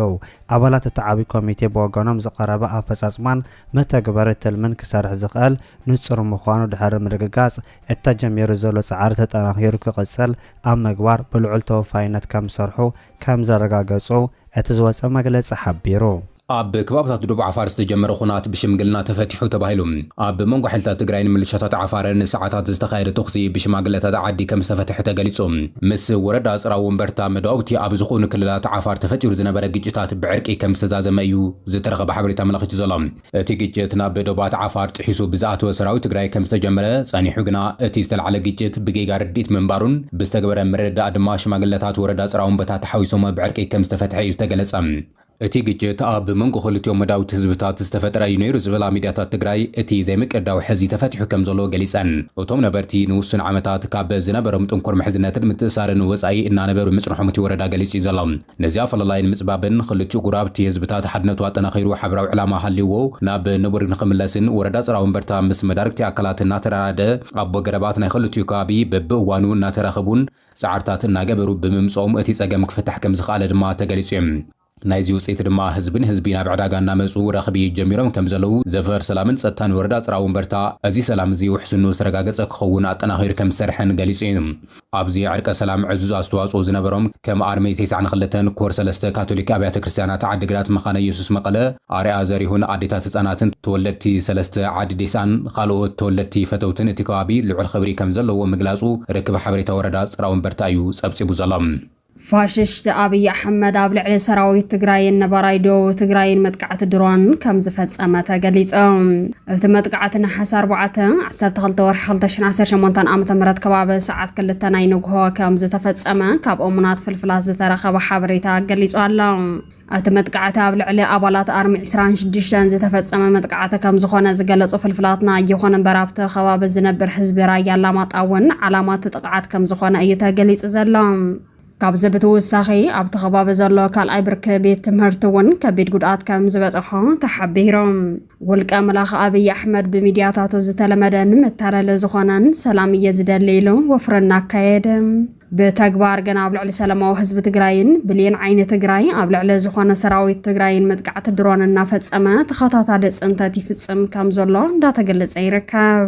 ኣባላት እቲ ዓብዪ ኮሚቴ ብወገኖም ዝቐረበ ኣፈፃፅማን መተግበሪ ትልምን ክሰርሕ ዝኽእል ንፁር ምዃኑ ድሕሪ ምርግጋፅ እቲ ተጀሚሩ ዘሎ ፃዕሪ ተጠናኺሩ ክቕፅል ኣብ ምግባር ብልዑል ተወፋይነት ከምዝሰርሑ ከም ዘረጋገጹ እቲ ዝወጸ መግለጺ ሓቢሩ። ኣብ ከባብታት ዶብ ዓፋር ዝተጀመረ ኹናት ብሽምግልና ተፈቲሑ ተባሂሉ። ኣብ መንጎ ሓይልታት ትግራይን ምልሻታት ዓፋርን ንሰዓታት ዝተኻየደ ተኹሲ ብሽማግለታት ዓዲ ከም ዝተፈተሐ ተገሊጹ። ምስ ወረዳ ጽራ ወንበርታ መዳውብቲ ኣብ ዝኹኑ ክልላት ዓፋር ተፈጢሩ ዝነበረ ግጭታት ብዕርቂ ከም ዝተዛዘመ እዩ ዝተረኸበ ሓበሬታ ኣመላኺቱ ዘሎ። እቲ ግጭት ናብ ዶባት ዓፋር ጥሒሱ ብዝኣተወ ሰራዊት ትግራይ ከምዝተጀመረ ጸኒሑ ግና እቲ ዝተላዕለ ግጭት ብጌጋ ርድኢት ምንባሩን ብዝተገበረ ምርድዳእ ድማ ሽማግለታት ወረዳ ጽራውንበታ ተሓዊሶሞ ብዕርቂ ከምዝተፈትሐ እዩ ዝተገለጸ። እቲ ግጭት ኣብ መንጎ ክልቲኦም መዳውብቲ ህዝብታት ዝተፈጠረ እዩ ነይሩ ዝብላ ሚድያታት ትግራይ እቲ ዘይምቅዳው ሕዚ ተፈቲሑ ከምዘሎ ገሊጸን። እቶም ነበርቲ ንውሱን ዓመታት ካብ ዝነበሮም ጥንኩር ምሕዝነትን ምትእስሳርን ወጻኢ እናነበሩ ምጽንሖም እቲ ወረዳ ገሊጹ እዩ ዘሎ። ነዚ ኣፈላላይ ንምጽባብን ኽልቲኡ ጉራብቲ ህዝብታት ሓድነቱ ኣጠናኺሩ ሓበራዊ ዕላማ ሃልይዎ ናብ ንቡር ንኽምለስን ወረዳ ጸራውንበርታ ምስ መዳርግቲ ኣካላት እናተራዳደ ኣቦ ገረባት ናይ ኽልቲኡ ከባቢ በብእዋኑ እናተራኸቡን ጻዕርታት እናገበሩ ብምምጽኦም እቲ ጸገም ክፍታሕ ከምዝኸኣለ ድማ ተገሊጹ'ዩ። ናይዚ ውጽኢት ድማ ህዝቢ ንህዝቢ ናብ ዕዳጋ እናመጹ ረኽቢ ጀሚሮም ከምዘለዉ ዘፈር ሰላምን ጸጥታን ወረዳ ጽራውንበርታ እዚ ሰላም እዚ ውሕስንኡ ዝተረጋገጸ ክኸውን ኣጠናኺሩ ከምዝሰርሐን ገሊጹ'ዩ። ኣብዚ ዕርቀ ሰላም ዕዙዝ ኣስተዋጽኦ ዝነበሮም ከም ኣርሚ ቴስዓን ክልተን ኮር ሰለስተ ካቶሊክ ኣብያተ ክርስትያናት ዓዲግራት መኻነ ኢየሱስ መቐለ ኣርያ ዘሪሁን ኣዴታት ህጻናትን ተወለድቲ ሰለስተ ዓዲ ዴስኣን ኻልኦት ተወለድቲ ፈተውትን እቲ ከባቢ ልዑል ኽብሪ ከምዘለዎ ምግላጹ ርክብ ሓበሬታ ወረዳ ጽራወንበርታ እዩ ጸብጺቡ ዘሎ። ፋሽስት ኣብይ ኣሕመድ ኣብ ልዕሊ ሰራዊት ትግራይን ነባራይ ደቡብ ትግራይን መጥቃዕቲ ድሮን ከም ዝፈጸመ ተገሊጸ። እቲ መጥቃዕቲ ነሓሰ 4 12 ወርሒ 2018 ዓ.ም ከባቢ ሰዓት ክልተ ናይ ንግሆ ከም ዝተፈጸመ ካብ እሙናት ፍልፍላት ዝተረኸበ ሓበሬታ ገሊጹ ኣሎ። እቲ መጥቃዕቲ ኣብ ልዕሊ ኣባላት ኣርሚ ዕስራን ሽዱሽተን ዝተፈጸመ መጥቃዕቲ ከም ዝኾነ ዝገለጹ ፍልፍላትና፣ ይኹን እምበር ኣብቲ ከባቢ ዝነብር ህዝቢ ራያ ኣላማጣ እውን ዓላማ እቲ ጥቕዓት ከም ዝኾነ እዩ ተገሊጹ ዘሎ። ካብዚ ብትውሳኺ ኣብቲ ከባቢ ዘሎ ካልኣይ ብርኪ ቤት ትምህርቲ እውን ከቢድ ጉድኣት ከም ዝበጸሖ ተሓቢሩ። ውልቀ መላኽ ኣብይ ኣሕመድ ብሚድያታቱ ዝተለመደን መታለሊ ዝኾነን ሰላም እየ ዝደሊ ኢሉ ወፍሪ እናካየደ ብተግባር ግን ኣብ ልዕሊ ሰላማዊ ህዝቢ ትግራይን ብሌን ዓይኒ ትግራይ ኣብ ልዕሊ ዝኾነ ሰራዊት ትግራይን መጥቃዕቲ ድሮን እናፈፀመ ተኸታታሊ ፅንተት ይፍፅም ከም ዘሎ እንዳተገለፀ ይርከብ።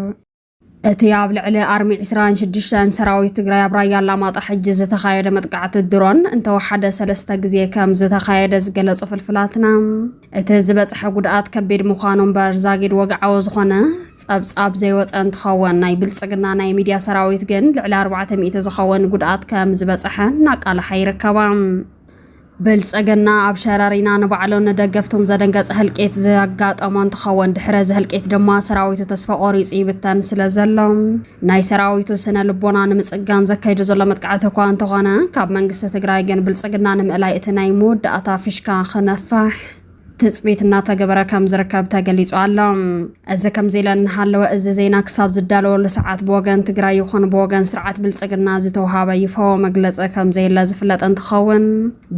እቲ ኣብ ልዕሊ ኣርሚ ዕስራን ሽዱሽተን ሰራዊት ትግራይ ኣብ ራያ ኣላማጣ ሕጂ ዝተኻየደ መጥቃዕቲ ድሮን እንተወሓደ ሰለስተ ግዜ ከም ዝተኻየደ ዝገለጹ ፍልፍላትና እቲ ዝበጽሐ ጉድኣት ከቢድ ምዃኑ እምበር ዛጊድ ወግዓዊ ዝኾነ ጸብጻብ ዘይወጸ እንትኸውን ናይ ብልጽግና ናይ ሚድያ ሰራዊት ግን ልዕሊ ኣርባዕተ ሚእቲ ዝኸውን ጉድኣት ከም ዝበጽሐ እናቃልሓ ይርከባ። ብልፀገና ኣብ ሸረሪና ንባዕሉን ንደገፍቱን ዘደንገፀ ህልቂት ዘጋጠሞ እንትኸውን ድሕሪ እዚ ህልቂት ድማ ሰራዊቱ ተስፋ ቆሪፁ ይብተን ስለ ዘሎ ናይ ሰራዊቱ ስነ ልቦና ንምፅጋን ዘካይዶ ዘሎ መጥቃዕቲ እኳ እንተኾነ ካብ መንግስቲ ትግራይ ግን ብልፅግና ንምእላይ እቲ ናይ መወዳእታ ፊሽካ ክነፋሕ ትፅቢት እናተገበረ ከም ዝርከብ ተገሊፁ ኣሎ። እዚ ከምዚ ኢለ እናሃለወ እዚ ዜና ክሳብ ዝዳለወሉ ሰዓት ብወገን ትግራይ ይኹን ብወገን ስርዓት ብልፅግና ዝተውሃበ ይፋዊ መግለፂ ከምዘየለ ዝፍለጥ እንትኸውን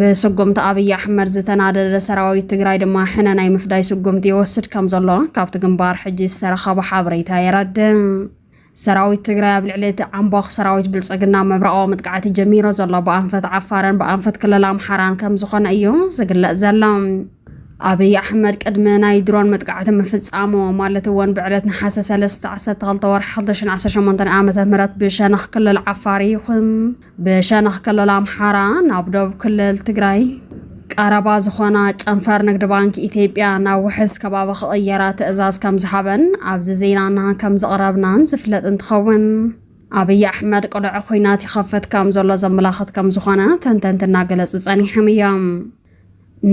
ብስጉምቲ ኣብይ ኣሕመድ ዝተናደደ ሰራዊት ትግራይ ድማ ሕነ ናይ ምፍዳይ ስጉምቲ ይወስድ ከምዘሎ ካብቲ ግንባር ሕጂ ዝተረኸበ ሓበሬታ የረድእ። ሰራዊት ትግራይ ኣብ ልዕሊ እቲ ዓምቧኽ ሰራዊት ብልፅግና ምብራቓዊ መጥቃዕቲ ጀሚሮ ዘሎ ብኣንፈት ዓፋርን ብኣንፈት ክልል ኣምሓራን ከም ዝኾነ እዩ ዝግለጽ ዘሎ። ኣብይ ኣሕመድ ቅድሚ ናይ ድሮን መጥቃዕቲ ምፍጻሙ ማለት እውን ብዕለት ነሓሰ 3 12 ወርሒ 2018 ዓ ም ብሸነኽ ክልል ዓፋር ይኹን ብሸነኽ ክልል ኣምሓራ ናብ ዶብ ክልል ትግራይ ቀረባ ዝኾና ጨንፈር ንግድ ባንኪ ኢትዮጵያ ናብ ውሕስ ከባቢ ክቕየራ ትእዛዝ ከም ዝሃበን ኣብዚ ዜናና ከም ዝቕረብናን ዝፍለጥ እንትኸውን ኣብይ ኣሕመድ ቅሉዕ ኩናት ይኸፍት ከም ዘሎ ዘመላኽት ከም ዝኾነ ተንተንቲ እናገለጹ ጸኒሖም እዮም።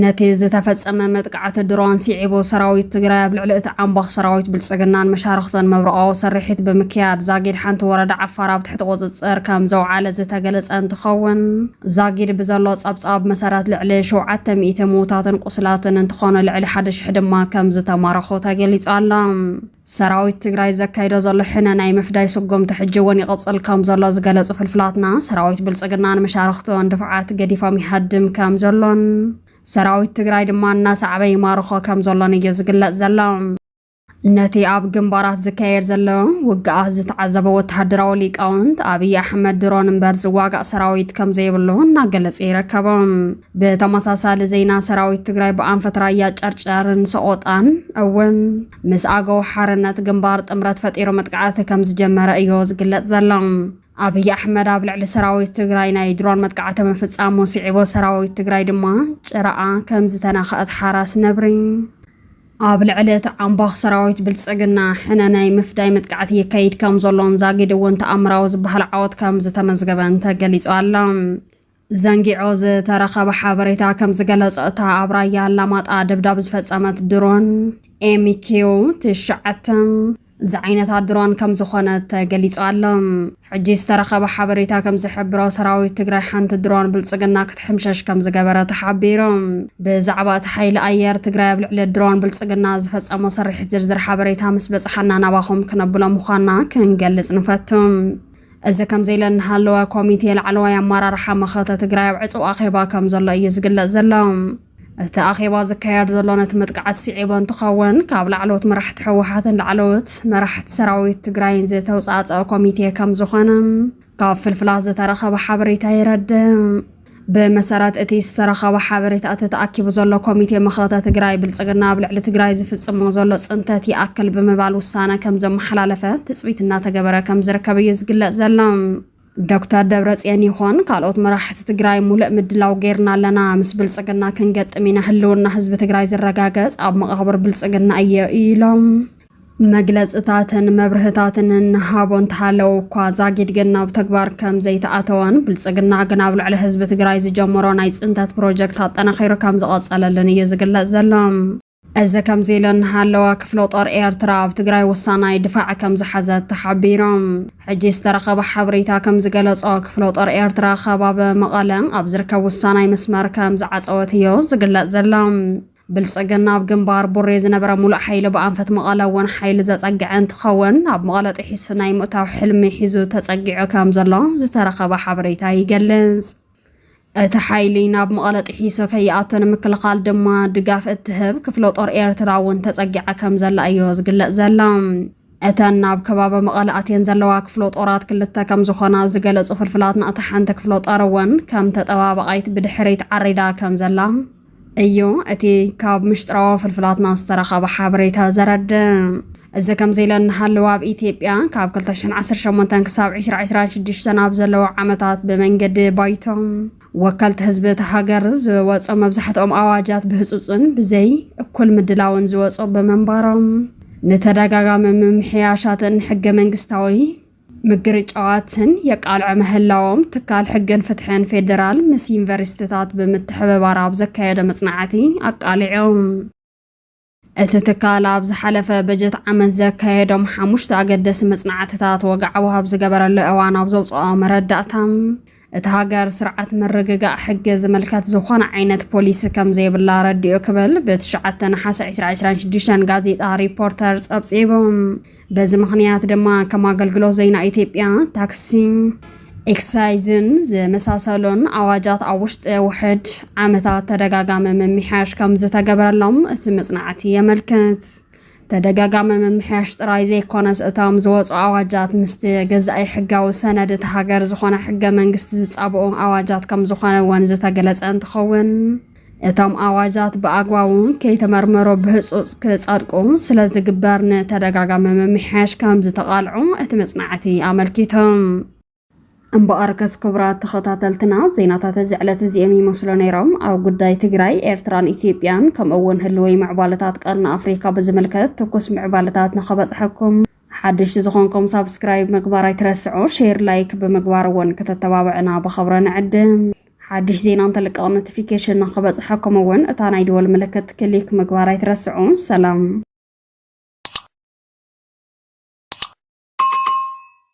ነቲ ዝተፈጸመ መጥቃዕቲ ድሮን ሲዒቡ ሰራዊት ትግራይ ኣብ ልዕሊ እቲ ዓምቧኽ ሰራዊት ብልጽግናን መሻርኽቱን መብርቓዊ ስርሒት ብምክያድ ዛጊድ ሓንቲ ወረዳ ዓፋር ኣብ ትሕቲ ቁጽጽር ከም ዘውዓለ ዝተገለጸ እንትኸውን ዛጊድ ብዘሎ ጸብጻብ መሰረት ልዕሊ ሸውዓተ ሚእቲ ምዉታትን ቁስላትን እንትኾኑ ልዕሊ ሓደ ሽሕ ድማ ከም ዝተማረኹ ተገሊጹ ኣሎ። ሰራዊት ትግራይ ዘካይዶ ዘሎ ሕነ ናይ ምፍዳይ ስጉምቲ ሕጂ እውን ይቕፅል ከም ዘሎ ዝገለፁ ፍልፍላትና፣ ሰራዊት ብልፅግና ንመሻርኽቱን ድፋዓት ገዲፎም ይሃድም ከም ዘሎን ሰራዊት ትግራይ ድማ እናሰዕበ ይማርኾ ከም ዘሎን እዩ ዝግለፅ ዘሎ። ነቲ ኣብ ግንባራት ዝካየድ ዘሎ ውግኣት ዝተዓዘበ ወተሃደራዊ ሊቃውንት ኣብይ ኣሕመድ ድሮን እምበር ዝዋጋእ ሰራዊት ከም ዘይብሉ እናገለፀ ይርከቦም። ብተመሳሳሊ ዜና ሰራዊት ትግራይ ብኣንፈት ራያ ጨርጨርን ሰቆጣን እውን ምስ ኣገው ሓርነት ግንባር ጥምረት ፈጢሩ መጥቃዕቲ ከም ዝጀመረ እዮ ዝግለጽ ዘሎ። ኣብይ ኣሕመድ ኣብ ልዕሊ ሰራዊት ትግራይ ናይ ድሮን መጥቃዕቲ ምፍጻሙ ስዒቦ ሰራዊት ትግራይ ድማ ጭራኣ ከም ዝተነኸአት ሓራስ ነብሪ ኣብ ልዕሊ እቲ ዓምባኽ ሰራዊት ብልጽግና ሕነ ናይ ምፍዳይ መጥቃዕቲ ይካይድ ከም ዘሎን ዛጊድ እውን ተኣምራዊ ዝበሃል ዓወት ከም ዝተመዝገበን ተገሊጹ ኣሎ። ዘንጊዖ ዝተረኸበ ሓበሬታ ከም ዝገለጾ እታ ኣብ ራያ ኣላማጣ ደብዳብ ዝፈጸመት ድሮን ኤምኪው ትሽዓተ ዝዓይነታ ድሮን ከም ዝኾነ ተገሊጹ ኣሎ። ሕጂ ዝተረኸበ ሓበሬታ ከም ዝሕብሮ ሰራዊት ትግራይ ሓንቲ ድሮን ብልጽግና ክትሕምሸሽ ከም ዝገበረ ተሓቢሩ። ብዛዕባ እቲ ሓይሊ ኣየር ትግራይ ኣብ ልዕሊ ድሮን ብልጽግና ዝፈጸሞ ስርሒት ዝርዝር ሓበሬታ ምስ በጽሓና ናባኹም ክነብሎ ምዃንና ክንገልጽ ንፈቱ። እዚ ከምዚ ኢለ እናሃለወ ኮሚቴ ላዕለዋይ ኣመራርሓ መኸተ ትግራይ ኣብ ዕፁው ኣኼባ ከም ዘሎ እዩ ዝግለፅ ዘሎ። እቲ ኣኼባ ዝካየድ ዘሎ ነቲ መጥቃዕቲ ስዒቡ እንትኸውን ካብ ላዕለዎት መራሕቲ ህወሓትን ላዕለዎት መራሕቲ ሰራዊት ትግራይን ዝተውፃእፀአ ኮሚቴ ከም ዝኾነ ካብ ፍልፍላት ዝተረኸበ ሓበሬታ የረድእ። ብመሰረት እቲ ዝተረኸበ ሓበሬታ እቲ ተኣኪቡ ዘሎ ኮሚቴ መኸተ ትግራይ ብልፅግና ኣብ ልዕሊ ትግራይ ዝፍፅሞ ዘሎ ፅንተት ይኣክል ብምባል ውሳነ ከም ዘመሓላለፈ ትፅቢት እናተገበረ ከም ዝርከብ እዩ ዝግለፅ ዘሎ። ዶክተር ደብረፅዮን ይኾን ካልኦት መራሕቲ ትግራይ ሙሉእ ምድላው ጌርና ኣለና፣ ምስ ብልፅግና ክንገጥም ኢና፣ ህልውና ህዝቢ ትግራይ ዝረጋገፅ ኣብ መቓብር ብልፅግና እዮ ኢሎም። መግለፅታትን መብርህታትን እንሃቦ እንተሃለው እኳ ዛጊድ ግን ናብ ተግባር ከም ዘይተኣተወን ብልፅግና ግን ኣብ ልዕሊ ህዝቢ ትግራይ ዝጀመሮ ናይ ፅንተት ፕሮጀክት ኣጠናኺሩ ከም ዝቐፀለልን እዩ ዝግለፅ ዘሎ። እዚ ከምዚ ኢሉ እንሃለወ ክፍለ ጦር ኤርትራ ኣብ ትግራይ ወሳናይ ድፋዕ ከም ዝሓዘት ተሓቢሩ። ሕጂ ዝተረኸበ ሓበሬታ ከም ዝገለፆ ክፍለ ጦር ኤርትራ ከባቢ መቐለ ኣብ ዝርከብ ወሳናይ መስመር ከም ዝዓፀወት እዩ ዝግለፅ ዘሎ። ብልፅግና ኣብ ግንባር ቡሬ ዝነበረ ሙሉእ ሓይሊ ብኣንፈት መቐለ እውን ሓይሊ ዘፀግዐ እንትኸውን ኣብ መቐለ ጥሒሱ ናይ ምእታው ሕልሚ ሒዙ ተፀጊዑ ከም ዘሎ ዝተረኸበ ሓበሬታ ይገልፅ። እቲ ሓይሊ ናብ መቐለ ጥሒሱ ከይኣቱ ንምክልኻል ድማ ድጋፍ እትህብ ክፍለ ጦር ኤርትራ እውን ተፀጊዓ ከም ዘላ እዮ ዝግለፅ ዘላ። እተን ናብ ከባቢ መቐለ ኣትየን ዘለዋ ክፍለ ጦራት ክልተ ከም ዝኾና ዝገለፁ ፍልፍላትና እታ ሓንቲ ክፍለ ጦር እውን ከም ተጠባባቓይት ብድሕሪት ዓሪዳ ከም ዘላ እዩ እቲ ካብ ምሽጥራዊ ፍልፍላትና ዝተረኸበ ሓበሬታ ዘረድእ። እዚ ከምዚ ኢለ እናሃለወ ኣብ ኢትዮጵያ ካብ 218 ክሳብ 2026 ኣብ ዘለዉ ዓመታት ብመንገዲ ባይቶ ወከልቲ ህዝቢ እቲ ሃገር ዝወፁ መብዛሕትኦም ኣዋጃት ብህፁፅን ብዘይ እኩል ምድላውን ዝወፁ ብምንባሮም ንተደጋጋሚ ምምሕያሻትን ሕገ መንግስታዊ ምግርጫዋትን የቃልዑ ምህላዎም ትካል ሕግን ፍትሕን ፌዴራል ምስ ዩኒቨርሲቲታት ብምትሕብባር ኣብ ዘካየደ መጽናዕቲ ኣቃሊዖም። እቲ ትካል ኣብ ዝሓለፈ በጀት ዓመት ዘካየዶም ሓሙሽተ ኣገደሲ መጽናዕትታት ወግዓዊ ኣብ ዝገበረሉ እዋን ኣብ ዘውፅኦ መረዳእታ እታ ሃገር ስርዓት ምርግጋእ ሕጊ ዝምልከት ዝኾነ ዓይነት ፖሊሲ ከም ዘይብላ ኣረዲኡ ክብል ብትሽዓተ ነሓሰ ዕስራ ዕስራን ሽዱሽተን ጋዜጣ ሪፖርተር ጸብጺቡ። በዚ ምኽንያት ድማ ከም ኣገልግሎት ዜና ኢትዮጵያ፣ ታክሲን ኤክሳይዝን ዝመሳሰሉን ኣዋጃት ኣብ ውሽጢ ውሕድ ዓመታት ተደጋጋሚ ምምሕያሽ ከም ዝተገበረሎም እቲ መጽናዕቲ የመልክት። ተደጋጋሚ ምምሕያሽ ጥራይ ዘይኮነስ እቶም ዝወፁ ኣዋጃት ምስቲ ገዛኢ ሕጋዊ ሰነድ እቲ ሃገር ዝኾነ ሕገ መንግስቲ ዝፃብኡ ኣዋጃት ከም ዝኾነ እውን ዝተገለፀ እንትኸውን እቶም ኣዋጃት ብኣግባቡ ከይተመርመሮ ብህፁፅ ክፀድቁ ስለ ዝግበር ንተደጋጋሚ ምምሕያሽ ከም ዝተቓልዑ እቲ መፅናዕቲ ኣመልኪቶም። እምበኣርከስ ክቡራት ተኸታተልትና ዜናታት እዚ ዕለት እዚኦም ይመስሉ ነይሮም። ኣብ ጉዳይ ትግራይ፣ ኤርትራን ኢትዮጵያን ከምኡ እውን ህልወይ ምዕባለታት ቀርኒ ኣፍሪካ ብዝምልከት ትኩስ ምዕባለታት ንኸበፅሐኩም ሓድሽቲ ዝኾንኩም ሳብስክራይብ ምግባር ኣይትረስዑ፣ ሼር ላይክ ብምግባር እውን ከተተባብዕና ብኸብረ ንዕድም። ሓድሽ ዜና እንተልቀቕ ኖቲፊኬሽን ንኸበፅሐኩም እውን እታ ናይ ደወል ምልክት ክሊክ ምግባር ኣይትረስዑ። ሰላም